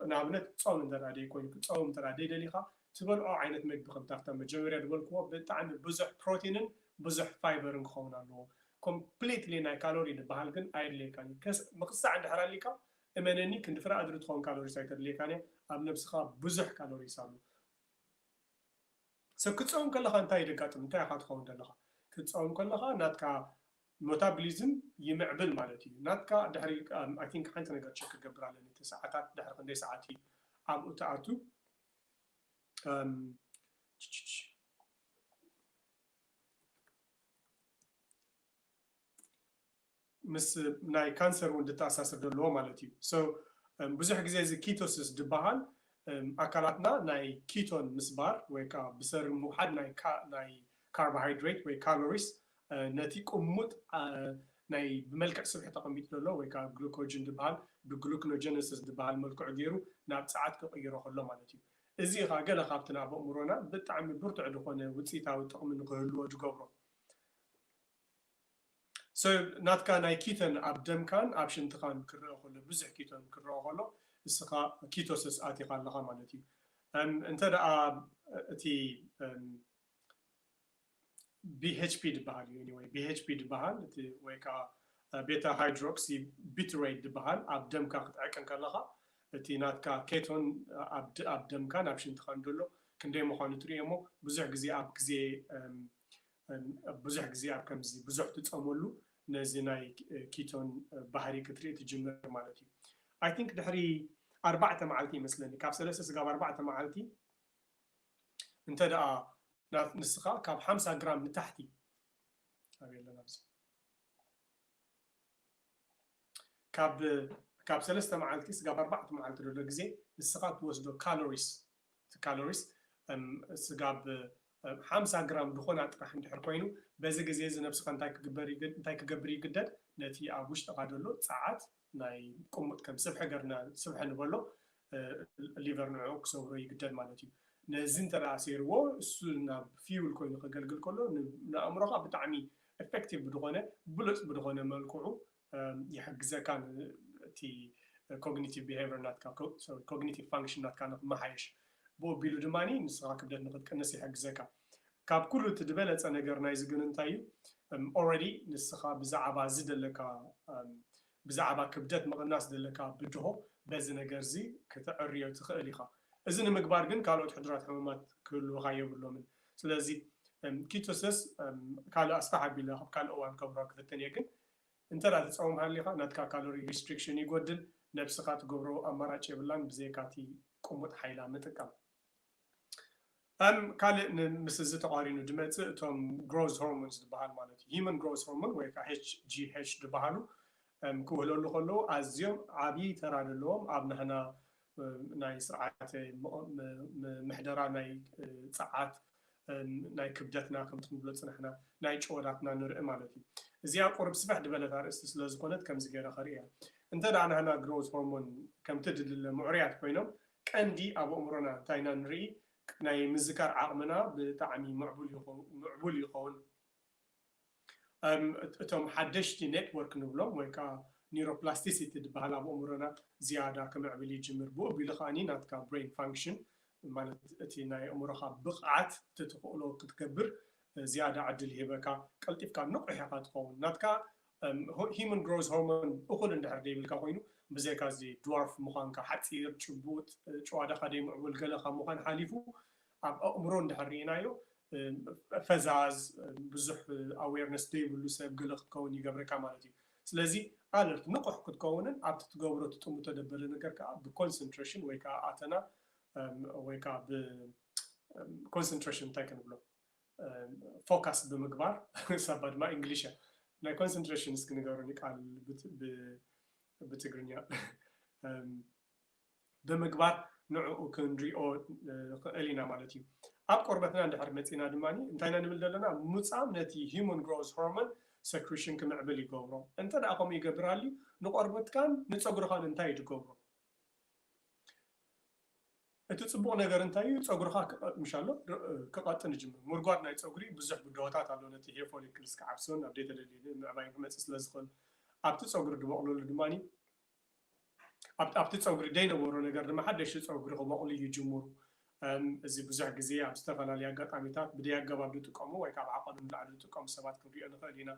ንኣብነት ጾም እንተድኣ ደይኮይኑ ክትጸውም እንተድኣ ደይደሊኻ ትበልዖ ዓይነት መግቢ ከምቲ ኣብታ መጀመርያ ድበልክዎ ብጣዕሚ ብዙሕ ፕሮቲንን ብዙሕ ፋይበርን ክኸውን ኣለዎ ኮምፕሊትሊ ናይ ካሎሪ ድብሃል ግን ኣየድልየካን እዩ ከስ ምኽሳዕ እንድሕር ኣሊካ እመነኒ ክንዲ ፍረ ኣድሪ ትኸውን ካሎሪስ ኣይተድልየካን እያ ኣብ ነብስኻ ብዙሕ ካሎሪስ ኣሎ ሰብ ክትጸውም ከለኻ እንታይ ደጋጥም እንታይ ኢኻ ትኸውን ደለኻ ክትጸውም ከለኻ ናትካ ሞታብሊዝም ይምዕብል ማለት እዩ ናትካ ድሕሪ ኣይ ቲንክ ሓንቲ ነገር ቸክ ክገብር ኣለኒ እቲ ሰዓታት ድሕሪ ክንደይ ሰዓት እዩ ኣብኡ ትኣቱ ችችች ምስ ናይ ካንሰር ውን ድተኣሳስር ዶ ኣለዎ ማለት እዩ so ብዙሕ ግዜ እዚ ኪቶስስ ድበሃል ኣካላትና ናይ ኪቶን ምስባር ወይ ከኣ ብሰሪ ምውሓድ ናይ ናይ ካርባሃይድሬት ወይ ካሎሪስ ነቲ ቁሙጥ ናይ ብመልክዕ ስብሒ ተቀሚጡ ደሎ ወይ ከኣ ግሉኮጅን ድበሃል ብግሉክኖጀነሰስ ድበሃል መልክዑ ጌሩ ናብ ጸዓት ክቅይሮ ከሎ ማለት እዩ እዚ ከኣ ገለ ካብቲ ናብ ኣእምሮና ብጣዕሚ ብርቱዕ ድኮነ ውጺኢታዊ ጥቅሚ ንክህልዎ ድገብሮ። ሰብ ናትካ ናይ ኪቶን ኣብ ደምካን ኣብ ሽንትካን ክረኣ ከሎ ብዙሕ ኪቶን ክረኣ ከሎ እስኻ ኪቶሰስ ኣቲኻ ኣለኻ ማለት እዩ እም እንተ ደኣ እቲ እም ቢሄችፒ ድበሃል እዩ ኤኒወይ ቢሄችፒ ድበሃል እቲ ወይ ከኣ ቤታ ሃይድሮክሲ ቢትሬት ድበሃል ኣብ ደምካ ክትዕቅን ከለኻ እቲ ናትካ ኬቶን ኣብ ደምካን ኣብ ሽንትካን ደሎ ክንደይ ምዃኑ ትርእዮ እሞ ብዙሕ ግዜ ኣብ ግዜ እም ብዙሕ ግዜ ኣብ ከምዚ ብዙሕ ትጸመሉ ነዚ ናይ ኪቶን ባህሪ ክትርኢ ትጅምር ማለት እዩ ኣይ ቲንክ ድሕሪ ኣርባዕተ መዓልቲ ይመስለኒ ካብ ሰለስተ ስጋብ ኣርባዕተ መዓልቲ እንተ ደኣ ንስኻ ካብ ሓምሳ ግራም ንታሕቲ ኣበይ ኣለና ኣብዚ ካብ ካብ ሰለስተ መዓልቲ ስጋብ ኣርባዕተ መዓልቲ ዘሎ ግዜ ንስኻ ትወስዶ ካሎሪስ እቲ ካሎሪስ ስጋ ብ ሓምሳ ግራም ድኾና ጥራሕ እንድሕር ኮይኑ በዚ ግዜ እዚ ነብስኻ እንታይ ክግበር እንታይ ክገብር ይግደድ ነቲ ኣብ ውሽጥኻ ደሎ ጸዓት ናይ ቁሙጥ ከም ስብሒ ገርና ስብሒ ንበሎ ሊቨር ንዕዑ ክሰብሮ ይግደድ ማለት እዩ ነዚ እንተ ኣሴርዎ እሱ ናብ ፊውል ኮይኑ ከገልግል ከሎ ንኣእምሮኻ ብጣዕሚ ኤፈክቲቭ ብድኾነ ብሉጽ ብድኾነ መልክዑ ይሕግዘካ እቲ ኮግኒቲቭ ቢሀይቨር ናትካ ሶሪ ኮግኒቲቭ ፋንክሽን ናትካ ንክመሓየሽ ብኡ ኣቢሉ ድማ ንስኻ ክብደት ንክትቅንስ ይሕግዘካ ካብ ኩሉ እቲ ዝበለፀ ነገር ናይዚ ግን እንታይ እዩ ኦረዲ ንስኻ ብዛዕባ እዚ ዘለካ ብዛዕባ ክብደት ምቕናስ ዘለካ ብድሆ በዚ ነገር እዚ ክትዕርዮ ትኽእል ኢኻ እዚ ንምግባር ግን ካልኦት ሕዱራት ሕሙማት ክህልውኻ የብሎምን ስለዚ ኪቶሰስ ካልእ ኣስፋሕ ኣቢለ ኣብ ካልእ እዋን ከብሮ ክፍትን እየ ግን እንተ ትጸውም ሃሊኻ ናትካ ካሎሪ ሪስትሪክሽን ይጎድል፣ ነብስኻ ትገብሮ ኣማራጭ የብላን ብዘይካቲ ቁሙጥ ሓይላ ምጥቃም። እም ካልእ ን ምስ እዚ ተቛሪኑ ድመጽእ እቶም ግሮዝ ሆርሞንስ ድበሃል ማለት እዩ ሂመን ግሮዝ ሆርሞን ወይ ከኣ HGH ድበሃሉ እም ክውህለሉ ከለዉ ኣዝዮም ዓቢ ተራ ደለዎም ኣብ ናህና ናይ ስርዓተ ምሕደራ ናይ ጸዓት ናይ ክብደትና ከምቲ ንብሎ ዝጸናሕና ናይ ጭወዳትና ንርኢ ማለት እዩ። እዚኣ ቁርብ ስፍሕ ድበለት ኣርእስቲ ስለ ዝኾነት ከምዚ ገይረ ከርእያ። እንተ ደኣ ናህና ግሮውዝ ሆርሞን ከምቲ ድድለ ምዑርያት ኮይኖም ቀንዲ ኣብ ኣእምሮና እንታይ ኢና ንርኢ ናይ ምዝካር ዓቕምና ብጣዕሚ ምዕቡል ይኸውን። እቶም ሓደሽቲ ኔትወርክ ንብሎም ወይ ከኣ ኒሮፕላስቲሲቲ ድበሃል ኣብ ኣእምሮና ዝያዳ ክምዕብል ይጅምር ብኡ ኣቢሉ ከኣ ናትካ ብረይን ፋንክሽን ማለት እቲ ናይ ኣእምሮኻ ብቕዓት እቲ ትኽእሎ ክትገብር ዝያዳ ዕድል ይህበካ ቀልጢፍካ ንቑሕ ኢኻ ትኸውን ናትካ ሂዩመን ግሮዝ ሆርሞን እኹል እንድሕር ደይብልካ ኮይኑ ብዘይካ እዚ ድዋርፍ ምዃንካ ሓጺር ጭቡጥ ጭዋዳኻ ደይምዕቡል ገለ ካብ ምዃን ሓሊፉ ኣብ ኣእምሮ እንድሕር ርኢናዮ ፈዛዝ ብዙሕ ኣዌርነስ ዘይብሉ ሰብ ገለ ክትከውን ይገብረካ ማለት እዩ። ስለዚ ኣለርት ንቑሕ ክትከውንን ኣብቲ ትገብሮ ትጥምቶ ደበለ ነገር ከኣ ብኮንሰንትረሽን ወይ ከኣ ኣተና ወይ ከኣ ብ ኮንሰንትረሽን እንታይ ክንብሎ ፎካስ ብምግባር ሳባ ድማ ኢንግሊሽ እያ ናይ ኮንሰንትረሽን እስኪ ንገሩኒ ቃል ብትግርኛ። ብምግባር ንዕኡ ክንሪኦ ንኽእል ኢና ማለት እዩ። ኣብ ቆርበትና እንድሕር መጺእና ድማ እንታይ ኢና ንብል ዘለና? ምጻም ነቲ ሂሙን ግሮዝ ሆርሞን ሰክሪሽን ክምዕብል ይገብሮ። እንተድኣ ከምኡ ይገብር ኣልዩ ንቆርበትካን ንጸጉርኻን እንታይ እዩ ዝገብሮ? እቲ ጽቡቕ ነገር እንታይ እዩ? ጸጉርኻ ክቐ- ምሻሎ ር- ክቐጥን ይጅምር። ምርጓድ ናይ ጸጉሪ ብዙሕ ብድሆታት ኣሎ። ነቲ ሄር ፎሊክልስ ክዓብስን ኣብ ደይተደልየ ምዕባይን ክመጽእ ስለ ዝኽእል ኣብቲ ጸጉሪ ዝበቕለሉ ድማ ኣብቲ ጸጉሪ ደይነበሮ ነገር ድማ ሓደሽቲ ጸጉሪ ክበቁሉ ይጅምሩ። እዚ ብዙሕ ግዜ ኣብ ዝተፈላለየ ኣጋጣሚታት ብደይ ኣገባብ ዝጥቀሙ ወይ ካብ ዓቀኑ ንላዕሊ ዝጥቀሙ ሰባት ክንሪኦ ንክእል ኢና።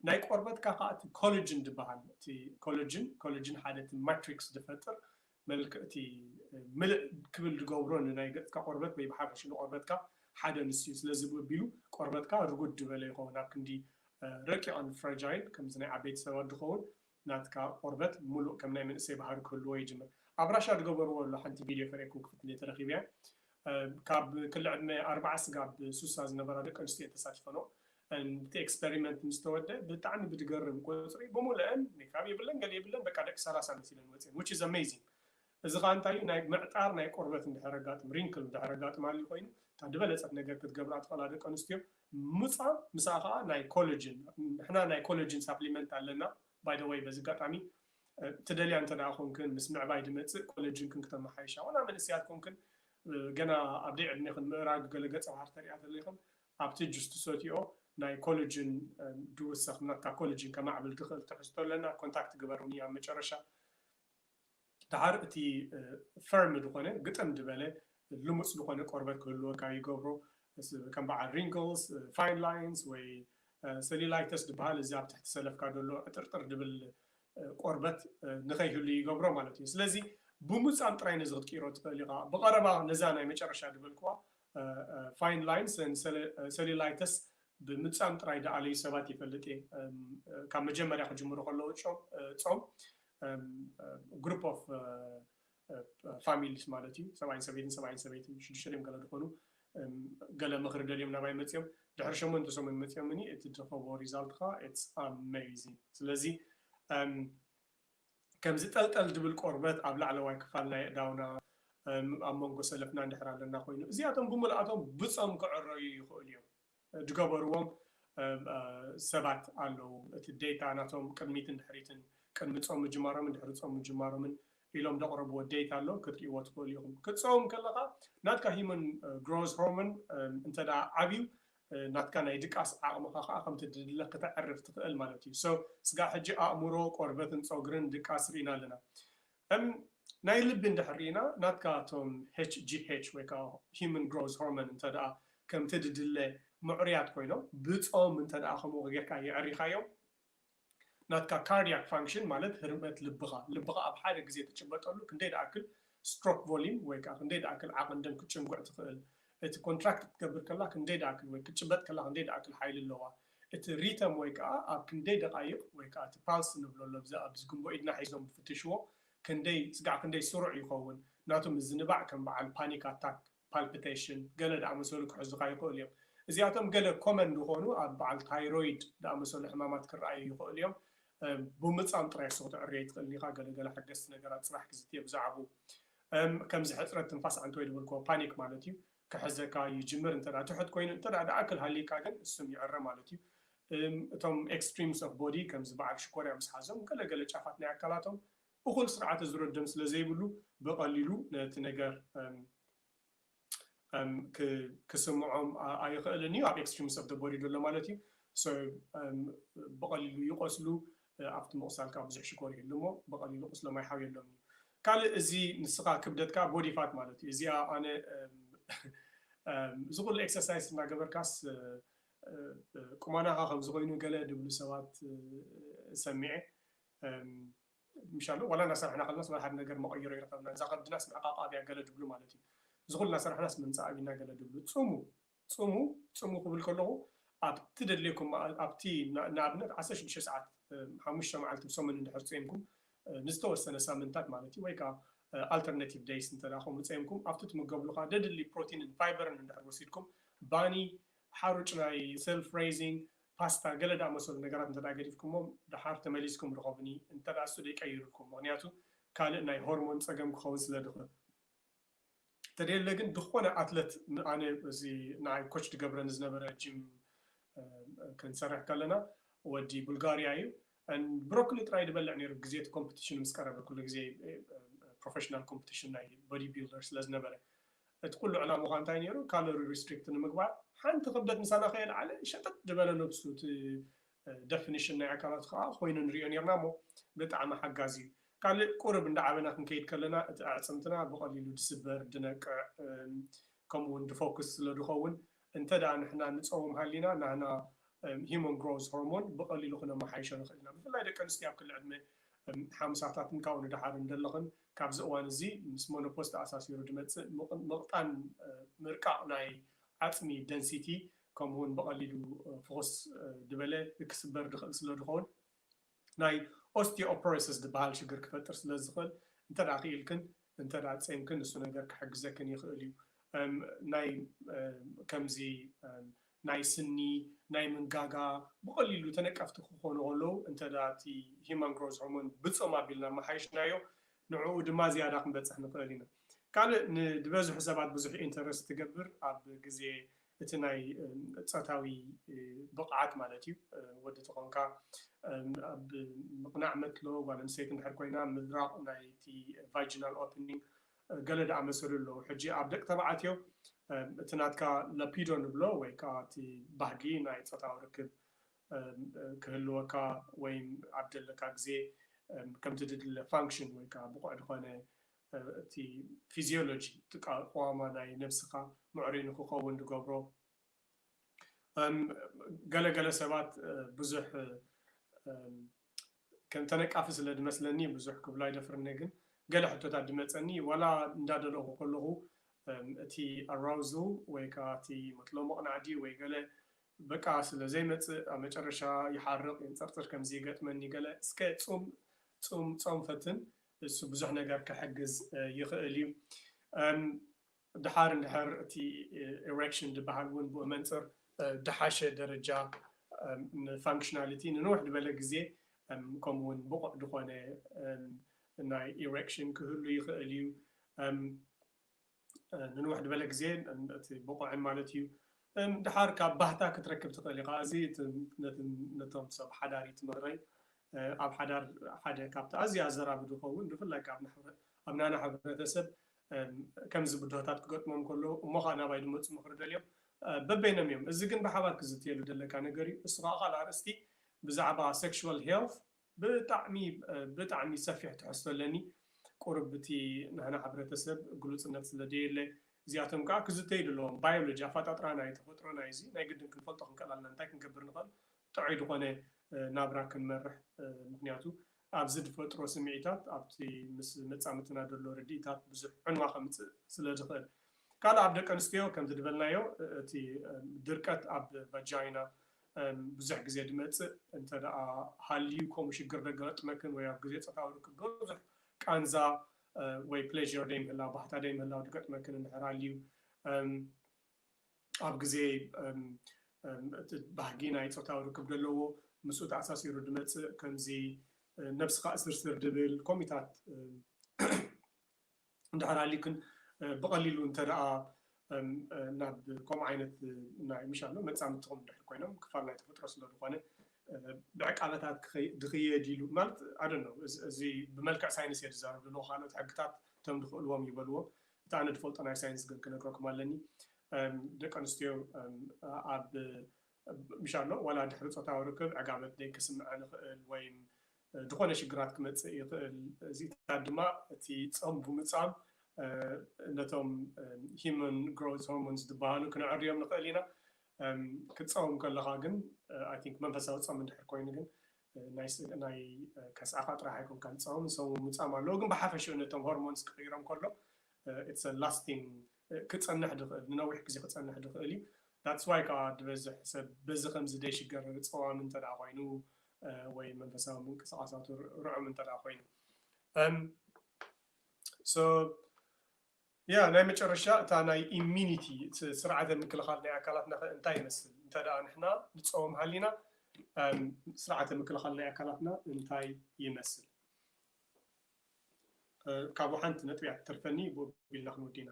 ናይ ቆርበትካ ከኣ እቲ ኮለጅን ዝብሃል እቲ ኮለጅን ኮለጅን ሓደ እቲ ማትሪክስ ዝፈጥር መልክዕ እቲ ምልእ ክብል ዝገብሮ ንናይ ገጽካ ቆርበት ወይ ብሓፈሽኡ ንቆርበትካ ሓደ ንሱ እዩ። ስለዚ ብኡ ኣቢሉ ቆርበትካ ርጉድ ዝበለ ይኸውን ኣብ ክንዲ ረቂቅን ፍራጃይል ከምዚ ናይ ዓበይቲ ሰባት ዝኸውን ናትካ ቆርበት ሙሉእ ከም ናይ መንእሰይ ባህሪ ክህልዎ ይጅምር ኣብ ራሻ ድገበርዎ ኣሎ ሓንቲ ቪድዮ ከርእየኩም ክፍትንየ ተረኪበያ ካብ ክሊ ዕድመ ኣርባዓ ስጋብ ሱሳ ዝነበራ ደቂ ኣንስትዮ እየን ተሳቲፈንኦ and እቲ ኤክስፐሪመንት ምስ ተወደእ ብጣዕሚ ብድገርም ቁጽሪ ብሙለእን ሜካብ የብለን ገለ የብለን በቃ ደቂ ሰላሳ መሲለን ወጺኤን which is amazing እዚ ከኣ እንታይ እዩ ናይ ምዕጣር ናይ ቆርበት እንድሕር ኣጋጥም ሪንክል እንድሕር ኣጋጥም ሃልዩ ኮይኑ እታ ድበለጸት ነገር ክትገብራ ትኽእላ ደቂ ኣንስትዮ ምጻ ምስኣ ከኣ ናይ ኮለጅን ንሕና ናይ ኮለጅን ሳፕሊመንት ኣለና ባይ ዘ ወይ በዚ ኣጋጣሚ ትደልያ እንተ ደኣ ኮንክን ምስ ምዕባይ ድመጽእ ኮለጅንክን ክተመሓይሻ ዋላ መንእሰያት ኮንክን ገና ኣብ ደይ ዕድሜኽን ምእራግ ገለ ገጸ ባህሪ ተርእያ ተለኽን ኣብቲ ጁስ ትሰትይኦ ናይ ኮለጅን ድውሰኽ ናትካ ኮለጅን ከማዕብል ድኽእል ትሕዝቶ ኣለና ኮንታክት ግበሩኒ ኣብ መጨረሻ ደሓር እቲ ፈርም ዝኾነ ግጥም ድበለ ልሙፅ ዝኾነ ቆርበት ክህልወካ ይገብሮ ከም በዓል ሪንግልስ ፋይን ላይንስ ወይ ሰሊላይተስ ድበሃል እዚ ኣብ ትሕቲ ሰለፍካ ደሎ ዕጥርጥር ድብል ቆርበት ንኸይህሉ ይገብሮ ማለት እዩ ስለዚ ብሙፃም ጥራይ ነዚ ክትቅይሮ ትኽእል ኢኻ ብቐረባ ነዛ ናይ መጨረሻ ድበልክዋ ፋይን ላይን ሰሊላይተስ ብምፃም ጥራይ ደኣለዩ ሰባት ይፈልጥ እየ ካብ መጀመርያ ክጅምሩ ከለዉ ጾም ግሩፕ ኦፍ ፋሚሊስ ማለት እዩ ሰብኣይን ሰበይትን ሰብኣይን ሰበይትን ሽዱሽተ ድዮም ገለ ዝኾኑ ገለ ምኽሪ ደልዮም ናባይ መፅኦም ድሕሪ ሸሞንተ ሰሙን መፅኦምኒ እቲ ትረኸቦ ሪዛልት ከዓ ኢትስ ኣሜዚንግ ስለዚ ከምዚ ጠልጠል ድብል ቆርበት ኣብ ላዕለዋይ ክፋል ናይ እዳውና ኣብ መንጎ ሰለፍና እንድሕር ኣለና ኮይኑ እዚኣቶም ብምልኣቶም ብፆም ክዕረዩ ይኽእሉ እዮም ድገበርዎም ሰባት ኣለዉ እቲ ዴታ ናቶም ቅድሚትን ድሕሪትን ቅድሚ ጾም ምጅማሮምን ድሕሪ ጾም ምጅማሮምን ኢሎም ደቅረብዎ ዴታ ኣሎ ክትሪእዎ ትክእሉ ኢኩም ክትጸውም ከለካ ናትካ ሂመን ግሮዝ ሆርሞን እንተ ዓብዩ ናትካ ናይ ድቃስ ዓቅምካ ከኣ ከምቲ ድድለ ክተዕርፍ ትክእል ማለት እዩ so ስጋብ ሕጂ ኣእምሮ ቆርበትን ጾግርን ድቃስ ሪኢና ኣለና እም ናይ ልቢ እንድሕር ሪኢና ናትካ እቶም HGH ወይ ከኣ Human Growth Hormone እንተ ደኣ ከምቲ ድድለ ምዕሩያት ኮይኖም ብጾም እንተ ደኣ ከምኡ ጌርካ የዕሪኻዮም ናትካ Cardiac Function ማለት ህርመት ልብኻ ልብኻ ኣብ ሓደ ግዜ ትጭበጠሉ ክንደይ ድኣክል Stroke Volume ወይ ከኣ ክንደይ ድኣክል ዓቕን ደም ክትጭንጉዕ ትኽእል እቲ ኮንትራክት ክትገብር ከላ ክንደይ ድኣክል ወይ ክትጭበጥ ከላ ክንደይ ድኣክል ሓይሊ ኣለዋ፣ እቲ ሪተም ወይ ከኣ ኣብ ክንደይ ደቓይቕ ወይ ከኣ እቲ ፓልስ ንብሎ ኣሎ ብዚ ኣብዚ ግንቦ ኢድና ሒዞም ዝፍትሽዎ ክንደይ ስጋዕ ክንደይ ስሩዕ ይኸውን ናቱ ምዝንባዕ ከም በዓል ፓኒክ ኣታክ፣ ፓልፕተሽን፣ ገለ ድኣመሰሉ ክሕዙኻ ይኽእሉ እዮም። እዚኣቶም ገለ ኮመን ዝኾኑ ኣብ በዓል ታይሮይድ ድኣመሰሉ ሕማማት ክረኣዩ ይኽእሉ እዮም። ብሙጻም ጥራይ እሱ ክትዕሪ ኣይትኽእልን ኢኻ ገለ ገለ ሓገዝቲ ነገራት ጽባሕ ክዝትየ ብዛዕብኡ። እም ከምዚ ሕጽረት ትንፋስ ዓንተወይ ዝበልክዎ ፓኒክ ማለት እዩ ክሕዘካ ይጅምር እንተ ትሑት ኮይኑ እንተ ድኣክል ሃልይካ ግን እሱም ይዕረ ማለት እዩ እም እቶም ኤክስትሪምስ ኦፍ ቦዲ ከምዚ በዓል ሽኮርያ ምስ ሓዞም ገለ ገለ ጫፋት ናይ ኣካላቶም እኹል ስርዓተ ዙረት ደም ስለ ዘይብሉ ብቐሊሉ ነቲ ነገር እም ክስምዖም ኣይኽእልን እዩ ኣብ ኤክስትሪምስ ኦፍ ዘ ቦዲ ዘሎ ማለት እዩ ሶ ብቐሊሉ ይቖስሉ ኣብቲ ምቑሳል ካብ ብዙሕ ሽኮር ይህሉ እሞ ብቐሊሉ ቁስሎም ኣይሓውየሎም እዩ ካልእ እዚ ንስኻ ክብደትካ ቦዲ ፋት ማለት እዩ እዚኣ ኣነ እዚ ኩሉ ኤክሰርሳይስ እናገበርካስ ቁማናኻ ከምዚ ኮይኑ ገለ ድብሉ ሰባት ሰሚዐ ምሽ ኣሎ ዋላ ናሰርሕና ከለናስ ዋላ ሓደ ነገር መቀይሮ ኣይረከብናን እዛ ከብድናስ ምዕቃቃብ እያ ገለ ድብሉ ማለት እዩ ዝኩሉ ናሰርሕናስ ምምጻእ ኣቢልና ገለ ድብሉ ጽሙ ጽሙ ጽሙ ክብል ከለኩ ኣብ ትደልየኩም መኣዝ ኣብቲ ንኣብነት ዓሰርተ ሽዱሽተ ሰዓት ሓሙሽተ መዓልቲ ብሰሙን እንድሕር ጾይምኩም ንዝተወሰነ ሳምንታት ማለት እዩ ወይ ከኣ ኣልተርነቲቭ ደይስ እንተ ከምኡ ጸይምኩም ኣብቲ ትምገብሉ ከኣ ደድሊ ፕሮቲንን ፋይበርን እንድሕር ወሲድኩም ባኒ ሓሩጭ ናይ ሰልፍ ሬዚንግ ፓስታ ገለ ዳኣመሰሉ ነገራት እንተ ገዲፍኩሞም ዳሓር ተመሊስኩም ርኸቡኒ እንተ እሱ ደይ ቀይሩልኩም ምኽንያቱ ካልእ ናይ ሆርሞን ጸገም ክኸውን ስለ ድኽእል ተደለ ግን ድኾነ ኣትለት ኣነ እዚ ንዓይ ኮች ድገብረኒ ዝነበረ ጂም ክንሰርሕ ከለና ወዲ ቡልጋርያ እዩ and ብሮኮሊ ጥራይ ድበልዕ ነይሩ ግዜ እቲ ኮምፕቲሽን ምስ ቀረበ ኩሉ ግዜ ፕሮፈሽናል ኮምፕቲሽን ናይ ቦዲ ቢልደር ስለ ዝነበረ እቲ ኩሉ ዕላምኻ እንታይ ነይሩ ካሎሪ ሪስትሪክት ንምግባር ሓንቲ ክብደት ምሳና ከየልዓለ ሸጠጥ ድበለ ነብሱ እቲ ደፍኒሽን ናይ ኣካላት ከዓ ኮይኑ ንሪኦ ነርና እሞ ብጣዕሚ ሓጋዚ እዩ ካልእ ቁርብ እንዳዓበና ክንከይድ ከለና እቲ ኣዕፅምትና ብቐሊሉ ድስበር ድነቅዕ ከምኡ እውን ድፎክስ ስለ ድኸውን እንተ ደኣ ንሕና ንጸውም ሃሊና ናህና ሂዩማን ግሮውዝ ሆርሞን ብቐሊሉ ክነመሓይሾ ንኽእል ኢና። ብፍላይ ደቂ ኣንስትዮ ኣብ ክሊ ዕድመ ሓምሳታትን ካብኡ ንደሓርን ዘለኽን ካብዚ እዋን እዚ ምስ ሞኖፖዝ ተኣሳሲሩ ዝመጽእ ምቕጣን ምርቃቕ ናይ ዓጽሚ ደንሲቲ ከምኡውን ብቐሊሉ ፍኹስ ዝበለ ክስበር ዝኽእል ስለ ዝኸውን ናይ ኦስቲዮፖሮሲስ ዝበሃል ሽግር ክፈጥር ስለ ዝኽእል እንተ ደኣ ክኢልክን እንተ ደኣ ጼምክን ንሱ ነገር ክሕግዘክን ይኽእል እዩ። ናይ ከምዚ ናይ ስኒ ናይ ምንጋጋ ብቐሊሉ ተነቀፍቲ ክኾኑ ከለዉ እንተ ደኣ እቲ ሂዩማን ግሮዝ ሆርሞን ብጾም ኣቢልና ኣመሓይሽናዮ ንዕኡ ድማ ዝያዳ ክንበጽሕ ንኽእል ኢና። ካልእ ንድበዝሑ ሰባት ብዙሕ ኢንተረስት ትገብር ኣብ ግዜ እቲ ናይ ጾታዊ ብቕዓት ማለት እዩ። ወዲ ተኾንካ ኣብ ምቕናዕ መትሎ ጓል ኣንስተይቲ እንድሕር ኮይና ምድራቕ ናይቲ ቫጂናል ኦፕኒንግ ገለ ዝኣመሰሉ ኣለዉ። ሕጂ ኣብ ደቂ ተባዕትዮ እቲ ናትካ ለፒዶ ንብሎ ወይ ከኣ እቲ ባህጊ ናይ ጾታዊ ርክብ ክህልወካ ወይም ኣብ ዘለካ ግዜ ከምቲ ዝድለ ፋንክሽን ወይ ከኣ ብቑዕ ዝኾነ እቲ ፊዝዮሎጂ እቲ ኣቀዋውማ ናይ ነብስኻ ምዕሩይ ንኽኸውን ዝገብሮ ገለ ገለ ሰባት ብዙሕ ከም ተነቃፊ ስለ ዝመስለኒ ብዙሕ ክብሎ ኣይደፍርን'የ ግን ገለ ሕቶታት ዝመጸኒ ዋላ እንዳደለኹ ከለኹ እቲ ኣራውዝል ወይ ከኣ እቲ መጥሎ መቕናዕዲ ወይ ገለ በቃ ስለ ዘይመጽእ ኣብ መጨረሻ ይሓርቕ የንጸርጽር ከምዚ ይገጥመኒ ገለ እስከ ጹም ጹም ጾም ፈትን እሱ ብዙሕ ነገር ክሕግዝ ይኽእል እዩ። ድሓር እንድሕር እቲ ኤሬክሽን ድበሃል እውን ብኡ መንፅር ድሓሸ ደረጃ ንፋንክሽናሊቲ ንንውሕ ድበለ ግዜ ከምኡ እውን ብቑዕ ድኾነ ናይ ኤሬክሽን ክህሉ ይኽእል እዩ። ንንውሕ ድበለ ግዜ እቲ ብቑዕን ማለት እዩ ድሓር ካብ ባህታ ክትረክብ ትኽእል ኢኻ እዚ ነቶም ሰብ ሓዳር እዩ ትምህረይ ኣብ ሓዳር ሓደ ካብቲ ኣዝዩ ኣዘራቢ ዝኸውን ብፍላይ ካብ ኣብ ናና ሕብረተሰብ ከምዚ ብድሆታት ክገጥሞም ከሎ እሞ ከዓ ናባይ ዝመፁ ምኽሪ ደልዮም በበይኖም እዮም እዚ ግን ብሓባር ክዝትየሉ ዘለካ ነገር እዩ እሱ ከዓ ካልእ ኣርእስቲ ብዛዕባ ሴክሹዋል ሄልት ብጣዕሚ ብጣዕሚ ሰፊሕ ትሕዝቶ ኣለኒ ቁሩብ እቲ ናህና ሕብረተሰብ ግሉጽነት ስለ ደየለ እዚኣቶም ከኣ ክዝተዩ ደለዎም ባዮሎጂ ኣፋጣጥራ ናይ ተፈጥሮና እዩ እዚ ናይ ግድን ክንፈልጦ ክንክእል ኣለና እንታይ ክንገብር ንክእል ጥዑይ ድኮነ ናብራ ክንመርሕ ምክንያቱ ኣብዚ ድፈጥሮ ስሚዒታት ኣብቲ ምስ መጻምትና ደሎ ርዲኢታት ብዙሕ ዕንዋ ከምጽእ ስለ ዝክእል ካልእ ኣብ ደቀንስትዮ ከምዚ ድበልናዮ እቲ ድርቀት ኣብ ቫጃይና ብዙሕ ግዜ ድመጽእ እንተ ደኣ ሃልዩ ከምኡ ሽግር ደገገጥመክን ወይ ኣብ ግዜ ጸታዊ ርክብ ብዙሕ ቃንዛ ወይ pleasure ደይምህላው ባህታ ደይምህላው ድገጥመክን እንድሕር ሃልዩ ኣብ ግዜ እቲ ባህጊ ናይ ጾታዊ ርክብ ደለዎ ምስኡ ተኣሳሲሩ ድመጽእ ከምዚ ነብስኻ እስርስር ድብል ከምኡታት እንድሕር ሃሊዩክን ብቐሊሉ እንተደኣ ናብ ከምኡ ዓይነት ናይ ምሻሎ መጻምድትኹም እንድሕር ኮይኖም ክፋል ናይ ተፈጥሮ ስለ ዝኾነ ብዕቃበታት ክኸይ ድኽየድ ኢሉ ማለት ኣይ ዶንት ኖው እዚ ብመልክዕ ሳይንስ እየ ዝዛረብ ዘለኹ ካልኦት ሕግታት እቶም ድኽእልዎም ይበልዎ እቲ ኣነ ድፈልጦ ናይ ሳይንስ ግን ክነግረኩም ኣለኒ ደቂ ኣንስትዮ ኣብ ምሻሎ ዋላ ድሕሪ ጾታዊ ርክብ ዕጋበት ደይ ክስምዐን ይኽእል ወይም ዝኾነ ሽግራት ክመጽእ ይኽእል እዚኢታት ድማ እቲ ጾም ብምጻም ነቶም ሂሞን ግሮዝ ሆርሞንስ ዝበሃሉ ክነዐርዮም ንኽእል ኢና ክትጸውም ከለኻ ግን ኣይ ቲንክ መንፈሳዊ ጾም እንድሕር ኮይኑ ግን ናይ ከስዓኻ ጥራሕ ኣይኮንካ ዝጸውም ሰው ምጻም ኣለዎ ግን ብሓፈሽኡ ነቶም ሆርሞንስ ክቕይሮም ከሎ ኢትስ ላስቲንግ ክጸንሕ ድክእል ንነዊሕ ግዜ ክጸንሕ ድክእል እዩ that's why ካኣ ድበዝሕ ሰብ በዚ ከምዚ ደይሽገር ጸዋም እንተ ኮይኑ ወይ መንፈሳዊ ምንቅስቃሳቱ ርዑም እንተ ኮይኑ እም so yeah ናይ መጨረሻ እታ ናይ immunity ስርዓተ ምክልኻል ናይ ኣካላትና ከ እንታይ ይመስል እንተ ንሕና ንጸውም ሃሊና ስርዓተ ምክልኻል ናይ ኣካላትና እንታይ ይመስል ካብኡ ሓንቲ ነጥቢ እያ ትተርፈኒ ብኡ ቢልና ክንውዲ ኢና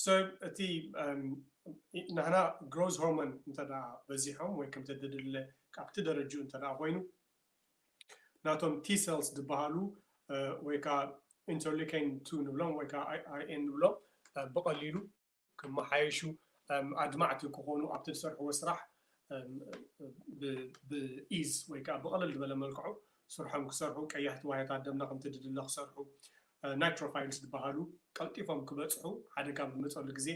ሰብ እቲ ንሕና ግሮዝ ሆርሞን እንተ በዚሖም ወይ ከምተ ድድለ ካብቲ ደረጅኡ እንተ ኮይኑ ናቶም ቲ ሰልስ ዝበሃሉ ወይ ከዓ ኢንተርሊኬን ቱ ንብሎም ወይ ከዓ ኣይኤን ንብሎም ብቐሊሉ ክመሓየሹ ኣድማዕቲ ክኾኑ ኣብቲ ዝሰርሕዎ ስራሕ ብኢዝ ወይ ከዓ ብቕልል ዝበለ መልክዑ ስርሖም ክሰርሑ ቀያሕቲ ዋህዮታት ደምና ከምቲ ድድለ ክሰርሑ ናይትሮፋይልስ ዝበሃሉ ቀልጢፎም ክበፅሑ ሓደጋ ኣብ ዝመፀሉ ግዜ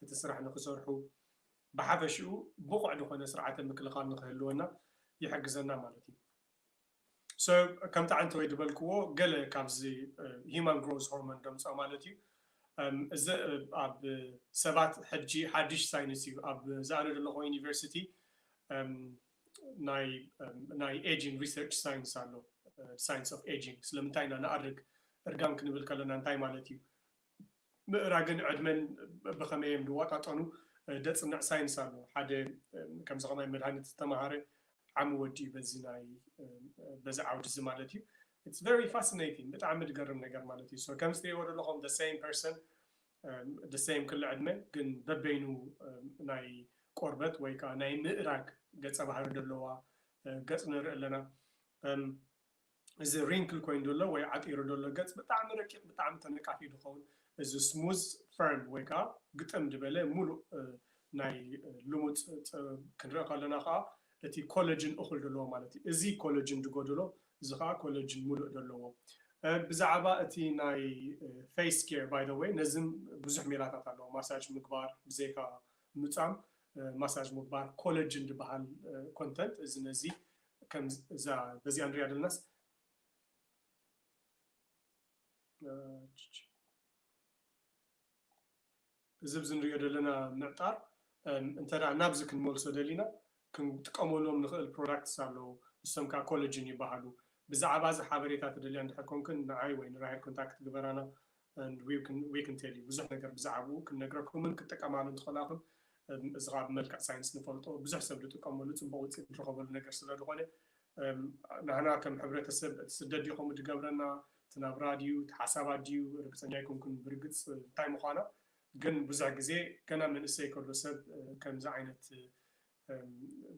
እቲ ስራሕ ንክሰርሑ ብሓፈሽኡ ብቑዕ ዝኾነ ስርዓተ ምክልኻል ንክህልወና ይሕግዘና ማለት እዩ። So ከምቲ ዓንተወይ ዝበልክዎ ገለ ካብዚ ሂማን ግሮዝ ሆርሞን ደምፆ ማለት እዩ እዚ ኣብ ሰባት ሕጂ ሓድሽ ሳይንስ እዩ ኣብ ዝኣነ ዘለኹ ዩኒቨርሲቲ ናይ ናይ ኤጂንግ ሪሰርች ሳይንስ ኣሎ ሳይንስ ኦፍ ኤጂንግ ስለምንታይ ኢና ንኣርግ እርጋን ክንብል ከለና እንታይ ማለት እዩ ምእራግን ዕድመን ብኸመይ እዮም ዝዋጣጠኑ? ዘጽንዕ ሳይንስ ኣሎ። ሓደ ከምዚ ከማይ መድሃኒት ዝተማሃረ ዓሚ ወዲ እዩ በዚ ናይ በዚ ዓውዲ እዚ ማለት እዩ። It's very fascinating ብጣዕሚ ዝገርም ነገር ማለት እዩ። So ከምዚ ትሪእዎ ዘለኹም the same person the same ክሊ ዕድመ ግን በበይኑ ናይ ቆርበት ወይ ከኣ ናይ ምእራግ ገጸ ባህሪ ዘለዋ ገጽ ንርኢ ኣለና። እዚ ሪንክል ኮይኑ ደሎ ወይ ዓጢሩ ደሎ ገጽ ብጣዕሚ ረቂቅ ብጣዕሚ ተነቃፊ ድከውን እዚ ስሙዝ ፈርን ወይ ከኣ ግጥም ድበለ ሙሉእ ናይ ልሙጽ ክንርኢ ከለና ከኣ እቲ ኮለጅን እኩል ደለዎ ማለት እዩ እዚ ኮለጅን ድጎደሎ እዚ ከኣ ኮለጅን ሙሉእ ደለዎ ብዛዕባ እቲ ናይ ፌስ ኬር ባይ ዘ ወይ ነዚ ብዙሕ ሜላታት ኣለዎ ማሳጅ ምግባር ብዘይካ ምጻም ማሳጅ ምግባር ኮለጅን ድበሃል ኮንተንት እዚ ነዚ ከም እዛ በዚኣ ንሪኣ ዘለናስ እዚ ኣብዚ ንሪኦ ዘለና ምዕጣር እንተ ናብዚ ክንመልሶ ደሊና ክንጥቀመሎም ንኽእል ፕሮዳክትስ ኣለዉ። ንሶም ከዓ ኮለጅን ይበሃሉ። ብዛዕባ እዚ ሓበሬታ ትደልያ እንድሕር ኮንክን ንዓይ ወይ ንራሄል ኮንታክት ግበራና። and we can we can tell you ብዙሕ ነገር ብዛዕብኡ ክንነግረኩምን ክትጥቀማሉ እንትኸላኹም እዚ ከዓ ብመልክዕ ሳይንስ ንፈልጦ ብዙሕ ሰብ ዝጥቀመሉ ፅቡቅ ውፅኢት ዝረኸበሉ ነገር ስለ ዝኾነ ናህና ከም ሕብረተሰብ እቲ ስደት ድዩ ከምኡ ዝገብረና እቲ ናብራ ድዩ እቲ ሓሳባት ድዩ ርግፀኛ ኣይኮንኩን ብርግፅ እንታይ ምዃና ግን ብዙሕ ግዜ ገና መንእሰይ ከሎ ሰብ ከምዚ ዓይነት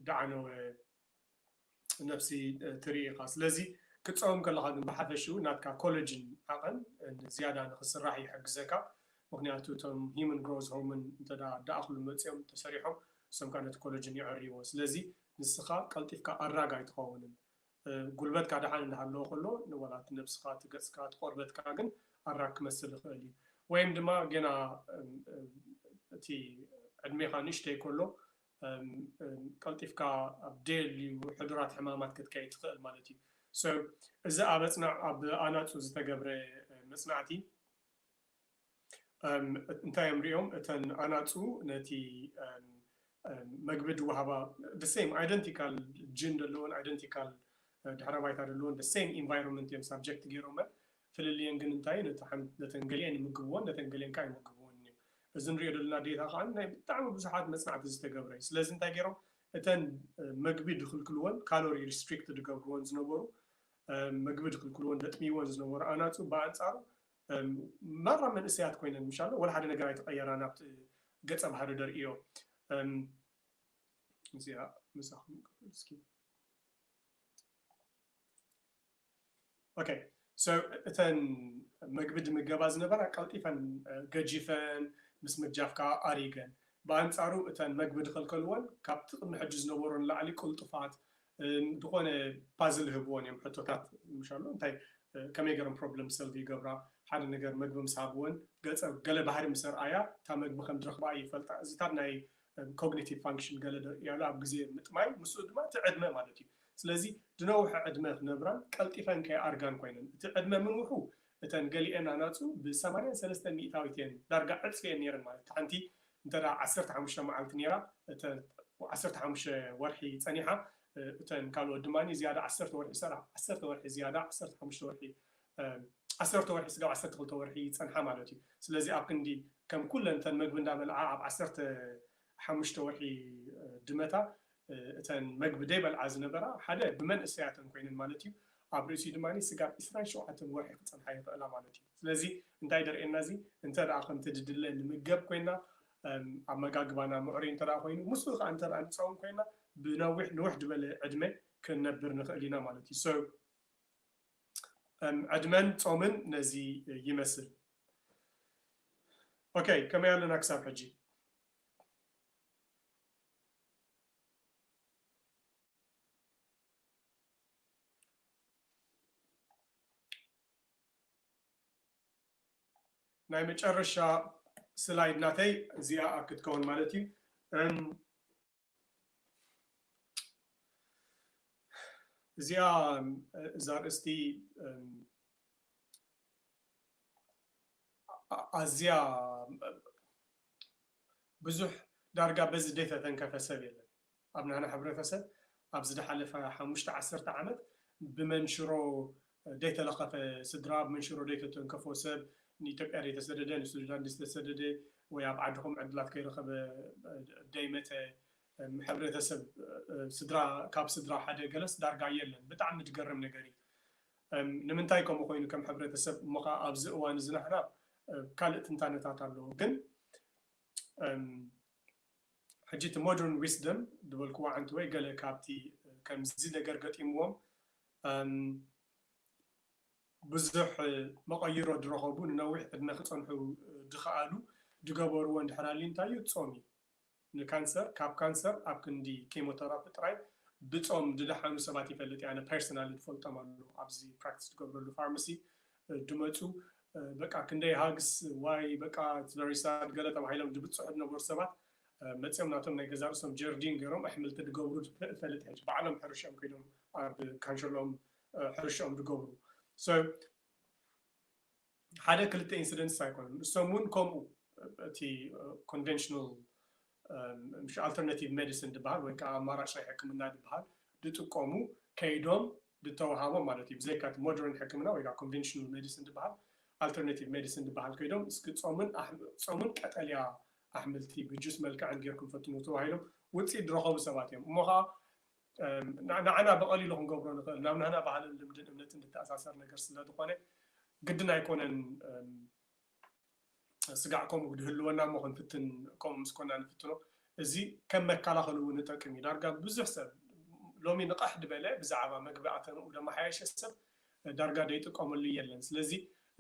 ዳዕነወ ነብሲ ትርኢ ኢኻ ስለዚ ክትጸውም ከለኻ ግን ብሓፈሽኡ ናትካ ኮለጅን ዓቐን ንዝያዳ ንኽስራሕ ይሕግዘካ ምኽንያቱ እቶም ሂምን ግሮዝ ሆርምን እንተ ደኣክሉ መጺኦም ተሰሪሖም እሶም ከኣ ነቲ ኮለጅን ይዕርይዎ ስለዚ ንስኻ ቀልጢፍካ ኣድራግ ኣይትኸውንን ጉልበትካ ደሓን እንዳሃለወ ከሎ ዋላ እቲ ነብስኻ እቲ ገጽካ እቲ ቆርበትካ ግን ኣድራግ ክመስል ይኽእል እዩ ወይም ድማ ገና እቲ ዕድሜኻ ንእሽተይ ከሎ ቀልጢፍካ ኣብ ደየልዩ ሕዱራት ሕማማት ክትከይድ ትኽእል ማለት እዩ። So እዚ ኣብ ኣጽናዕ ኣብ ኣናጹ ዝተገብረ መጽናዕቲ እንታይ እዮም ሪኦም እተን ኣናጹ ነቲ መግቢ ድወሃባ the same identical gene ደለወን identical ድሕረ ባይታ ደለወን the same environment እዮም subject ገይሮመን ፍልልየን ግን እንታይ እዩ ነቲ ሓንቲ ነተን ገሊኤን ይምግብዎን ነተን ገሊኤን ካኣ ኣይምግብዎንን እዮም እዚ ንሪኦ ደለና ዴታ ካኣ ናይ ብጣዕሚ ብዙሓት መጽናዕቲ ዝተገብረ እዩ ስለዚ እንታይ ጌሮም እተን መግቢ ድክልክልወን ካሎሪ ሪስትሪክት ድገብርወን ዝነበሩ መግቢ ድክልክልወን ደጥምይወን ዝነበሩ ኣናጹ ብኣንጻሩ ማራ መንእሰያት ኮይነን ምሻሎ ወላ ሓደ ነገር ኣይተቀየራን ኣብቲ ገጸ ባህሪ ደርእዮ እዚኣ ምሳኹም ክፍል እስኪ ኦከይ ሶ እተን መግቢ ድምገባ ዝነበራ ቀልጢፈን ገጂፈን ምስ ምጃፍካ ኣሪገን ብኣንጻሩ እተን መግቢ ድኸልከልወን ካብቲ ቅድሚ ሕጂ ዝነበሮ ንላዕሊ ቅልጡፋት ን ድኾነ ፓዝል ህብወን እዮም ሕቶታት ምሻሉ እንታይ ከመይ ገረን ፕሮብለም ሰልቭ ይገብራ ሓደ ነገር መግቢ ምስ ሃብወን ገጸ ገለ ባህሪ ምስ ኣርኣያ እታ መግቢ ከም ድረኽባ እይፈልጣ እዚታት ናይ ብ ኮግኒቲቭ ፋንክሽን ገለ ዶ ያሉ ኣብ ግዜ ምጥማይ ምስኡ ድማ እቲ ዕድመ ማለት እዩ ስለዚ ድነውሐ ዕድመ ክነብራን ቀልጢፈን ከይ ኣርጋን ኮይነን እቲ ዕድመ ምንውሑ እተን ገሊኤን ኣናጹ ብ ሰማንያን ሰለስተን ሚኢታዊት እየን ዳርጋ ዕጽፊ እየን ኔረን ማለት ታሓንቲ እንተ ዓሰርተ ሓሙሽተ ማዓልቲ ኔራ እተ ዓሰርተ ሓሙሽተ ወርሒ ጸኒሓ እተን ካልኦት ድማ ዝያዳ ዓሰርተ ወርሒ ሰራ ዓሰርተ ወርሒ ዝያዳ ዓሰርተ ሓሙሽተ ወርሒ ዓሰርተ ወርሒ ስጋብ ዓሰርተ ክልተ ወርሒ ይጸንሓ ማለት እዩ። ስለዚ ኣብ ክንዲ ከም ኩለን እተን መግቢ እንዳበልዓ ኣብ ዓሰርተ ሓሙሽተ ወርሒ ድመታ እተን መግቢ ደይበልዓ ዝነበራ ሓደ ብመንእሰያተን ኮይነን ማለት እዩ ኣብ ርእሲኡ ድማ ስጋብ ዕስራን ሸውዓተን ወርሒ ክጸንሓ ይኽእላ ማለት እዩ። ስለዚ እንታይ ደርእየና እዚ እንተ ከምቲ ድድለ ንምገብ ኮይና ኣመጋግባና ምዕሩይ እንተ ኮይኑ ምስኡ ከዓ እንተ ንጸውም ኮይና ብነዊሕ ንውሕ ድበለ ዕድመ ክንነብር ንኽእል ኢና ማለት እዩ። ዕድመን ጾምን ነዚ ይመስል። ኦከ ከመይ ኣለና ክሳብ ሕጂ። ናይ መጨረሻ ስላይድ ናተይ እዚኣ ክትከውን ማለት እዩ። እዚኣ እዛ ኣርእስቲ ኣዝያ ብዙሕ ዳርጋ በዚ ዘይተተንከፈ ሰብ የለን ኣብ ናህና ሕብረተሰብ ኣብ ዝደሓለፈ ሓሙሽተ ዓሰርተ ዓመት ብመንሽሮ ደይተለኸፈ ስድራ ኣብ መንሽሮ ደይተተንከፎ ሰብ ንኢትዮጵያ ደይተሰደደ ንሱዳን ደይተሰደደ ወይ ኣብ ዓድኹም ዕድላት ከይረኸበ ደይመጸ ሕብረተሰብ ስድራ ካብ ስድራ ሓደ ገለስ ዳርጋ የለን ብጣዕሚ ድገርም ነገር እዩ ንምንታይ ከምኡ ኮይኑ ከም ሕብረተሰብ እሞ ከኣ ኣብዚ እዋን እዚ ናህና ካልእ ትንታነታት ኣሎ ግን ሕጂ እቲ ሞደርን ዊስደም ዝበልክዎ ዓንተወይ ገለ ካብቲ ከምዚ ነገር ገጢምዎም እም ብዙሕ መቐይሮ ድረኸቡ ንነዊሕ ዕድመ ክጸንሑ ድኸኣሉ ድገበርዎ እንድሕር ኣልዩ እንታይ እዩ ጾም እዩ። ንካንሰር ካብ ካንሰር ኣብ ክንዲ ኬሞተራፒ ጥራይ ብጾም ድደሓኑ ሰባት ይፈልጥ እየ ኣነ ፐርሰናሊ ድፈልጦም ኣለዉ ኣብዚ ፕራክቲስ ድገብረሉ ፋርማሲ ድመጹ በቃ ክንደይ ሃግስ ዋይ በቃ ኢትስ ቨሪ ሳድ ገለ ተባሂሎም ድብጽሑ ድነበሩ ሰባት መጽዮም ናቶም ናይ ገዛእ ርእሶም ጀርዲን ገሮም ኣሕምልቲ ድገብሩ ድፈልጥ ሕጂ ባዕሎም ሕርሽኦም ከይዶም ኣብ ካንሸሎኦም ሕርሽኦም ድገብሩ so ሓደ ክልተ ኢንሲደንትስ ኣይኮኑን እሶም እውን ከምኡ እቲ ኮንቨንሽናል ምሽ ኣልተርናቲቭ ሜዲሲን ድበሃል ወይ ከዓ ኣማራጭ ናይ ሕክምና ድበሃል ድጥቀሙ ከይዶም ድተዋሃቦም ማለት እዩ ብዘይካ እቲ ሞደርን ሕክምና ወይ ከዓ ኮንቨንሽናል ሜዲሲን ድበሃል ኣልተርናቲቭ ሜዲሲን ድበሃል ከይዶም እስኪ ፆምን ፆምን ቀጠልያ ኣሕምልቲ ብጁስ መልክዕን ጌርኩም ፈትንዎ ተባሂሎም ውጽኢት ድረኸቡ ሰባት እዮም። እሞ ኸኣ ንዓና ብቐሊሉ ክንገብሮ ንኽእል ናብ ናህና ባህልን ልምድን እምነትን ድተኣሳሰር ነገር ስለ ድኾነ ግድን ኣይኮነን ስጋዕ ከምኡ ድህልወና እሞ ክንፍትን ከምኡ ምስ ኮና ንፍትኖ። እዚ ከም መከላኸሊ እውን እጠቅም እዩ። ዳርጋ ብዙሕ ሰብ ሎሚ ንቐሕ ድበለ ብዛዕባ መግቢ ኣተንኡ ደማሓየሸ ሰብ ዳርጋ ደይጥቀመሉ የለን ስለዚ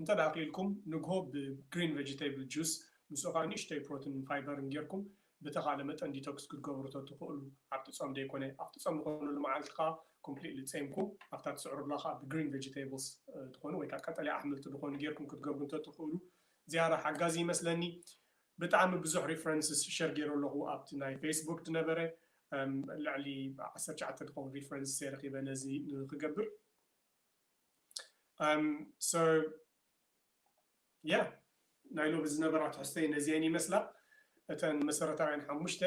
እንተ ክኢልኩም ንግሆ ብ green vegetable juice ምስኡ ከኣ ንእሽተይ ፕሮትንን ፋይበርን ጌርኩም ብተኻለ መጠን ዲቶክስ ክትገብሩ ተትኽእሉ ኣብቲ ጾም ደይኮነ ኣብቲ ጾም ዝኾነሉ መዓልቲ ከኣ ኮምፕሊትሊ ጼምኩም ኣብታ ትስዕሩላ ከኣ ብ green vegetables ዝኾኑ ወይ ከኣ ቀጠልያ ኣሕምልቲ ዝኾኑ ጌርኩም ክትገብሩ እንተትኽእሉ ዝያዳ ሓጋዚ ይመስለኒ። ብጣዕሚ ብዙሕ ሪፈረንስስ ሸር ጌሮ ኣለኹ ኣብቲ ናይ ፌስቡክ ድነበረ ልዕሊ ዓሰርተ ትሽዓተ ድኾን ሪፈረንስስ እየ ረኺበ ነዚ ንኽገብር so yeah ናይ ሎሚ ዝነበራ ትሕዝቶይ ነዚኤን ይመስላ እተን መሰረታውያን ሓሙሽተ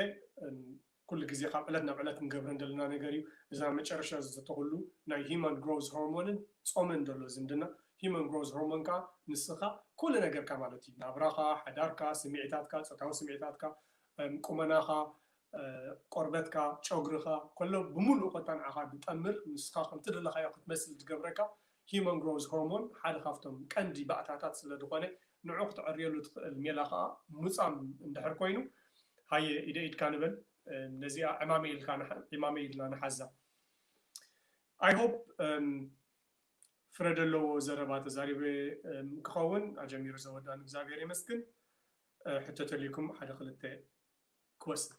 ኩሉ ግዜ ካብ ዕለት ናብ ዕለት ንገብረን ደለና ነገር እዩ እዚ ኣብ መጨረሻ ዝዝተኹሉ ናይ ሂማን ግሮዝ ሆርሞንን ጾምን ደሎ ዝምድና ሂማን ግሮዝ ሆርሞን ከኣ ንስኻ ኩሉ ነገርካ ማለት እዩ ናብራኻ ሓዳርካ ስሚዒታትካ ጾታዊ ስሚዒታትካ ቁመናኻ ቆርበትካ ጮግርኻ ከሎ ብምሉኡ ኮታ ንዓኻ ድጠምር ንስኻ ከምቲ ደለኻዮ ክትመስል ድገብረካ ሂዩማን ግሮውዝ ሆርሞን ሓደ ካብቶም ቀንዲ ባእታታት ስለ ድኾነ ንዑ ክትዕርየሉ ትኽእል ሜላ ኸኣ ሙጻም እንድሕር ኮይኑ ሃየ ኢደ ኢድካ ንበል ነዚኣ ዕማመይ ኢልካ ዒማመይ ኢልና ንሓዛ ኣይ ሆፕ ፍረ ደለዎ ዘረባ ተዛሪበ ክኸውን ኣጀሚሩ ዘወዳኒ እግዛብሄር የመስግን ሕቶ ተልዩኩም ሓደ ክልተ ክወስድ።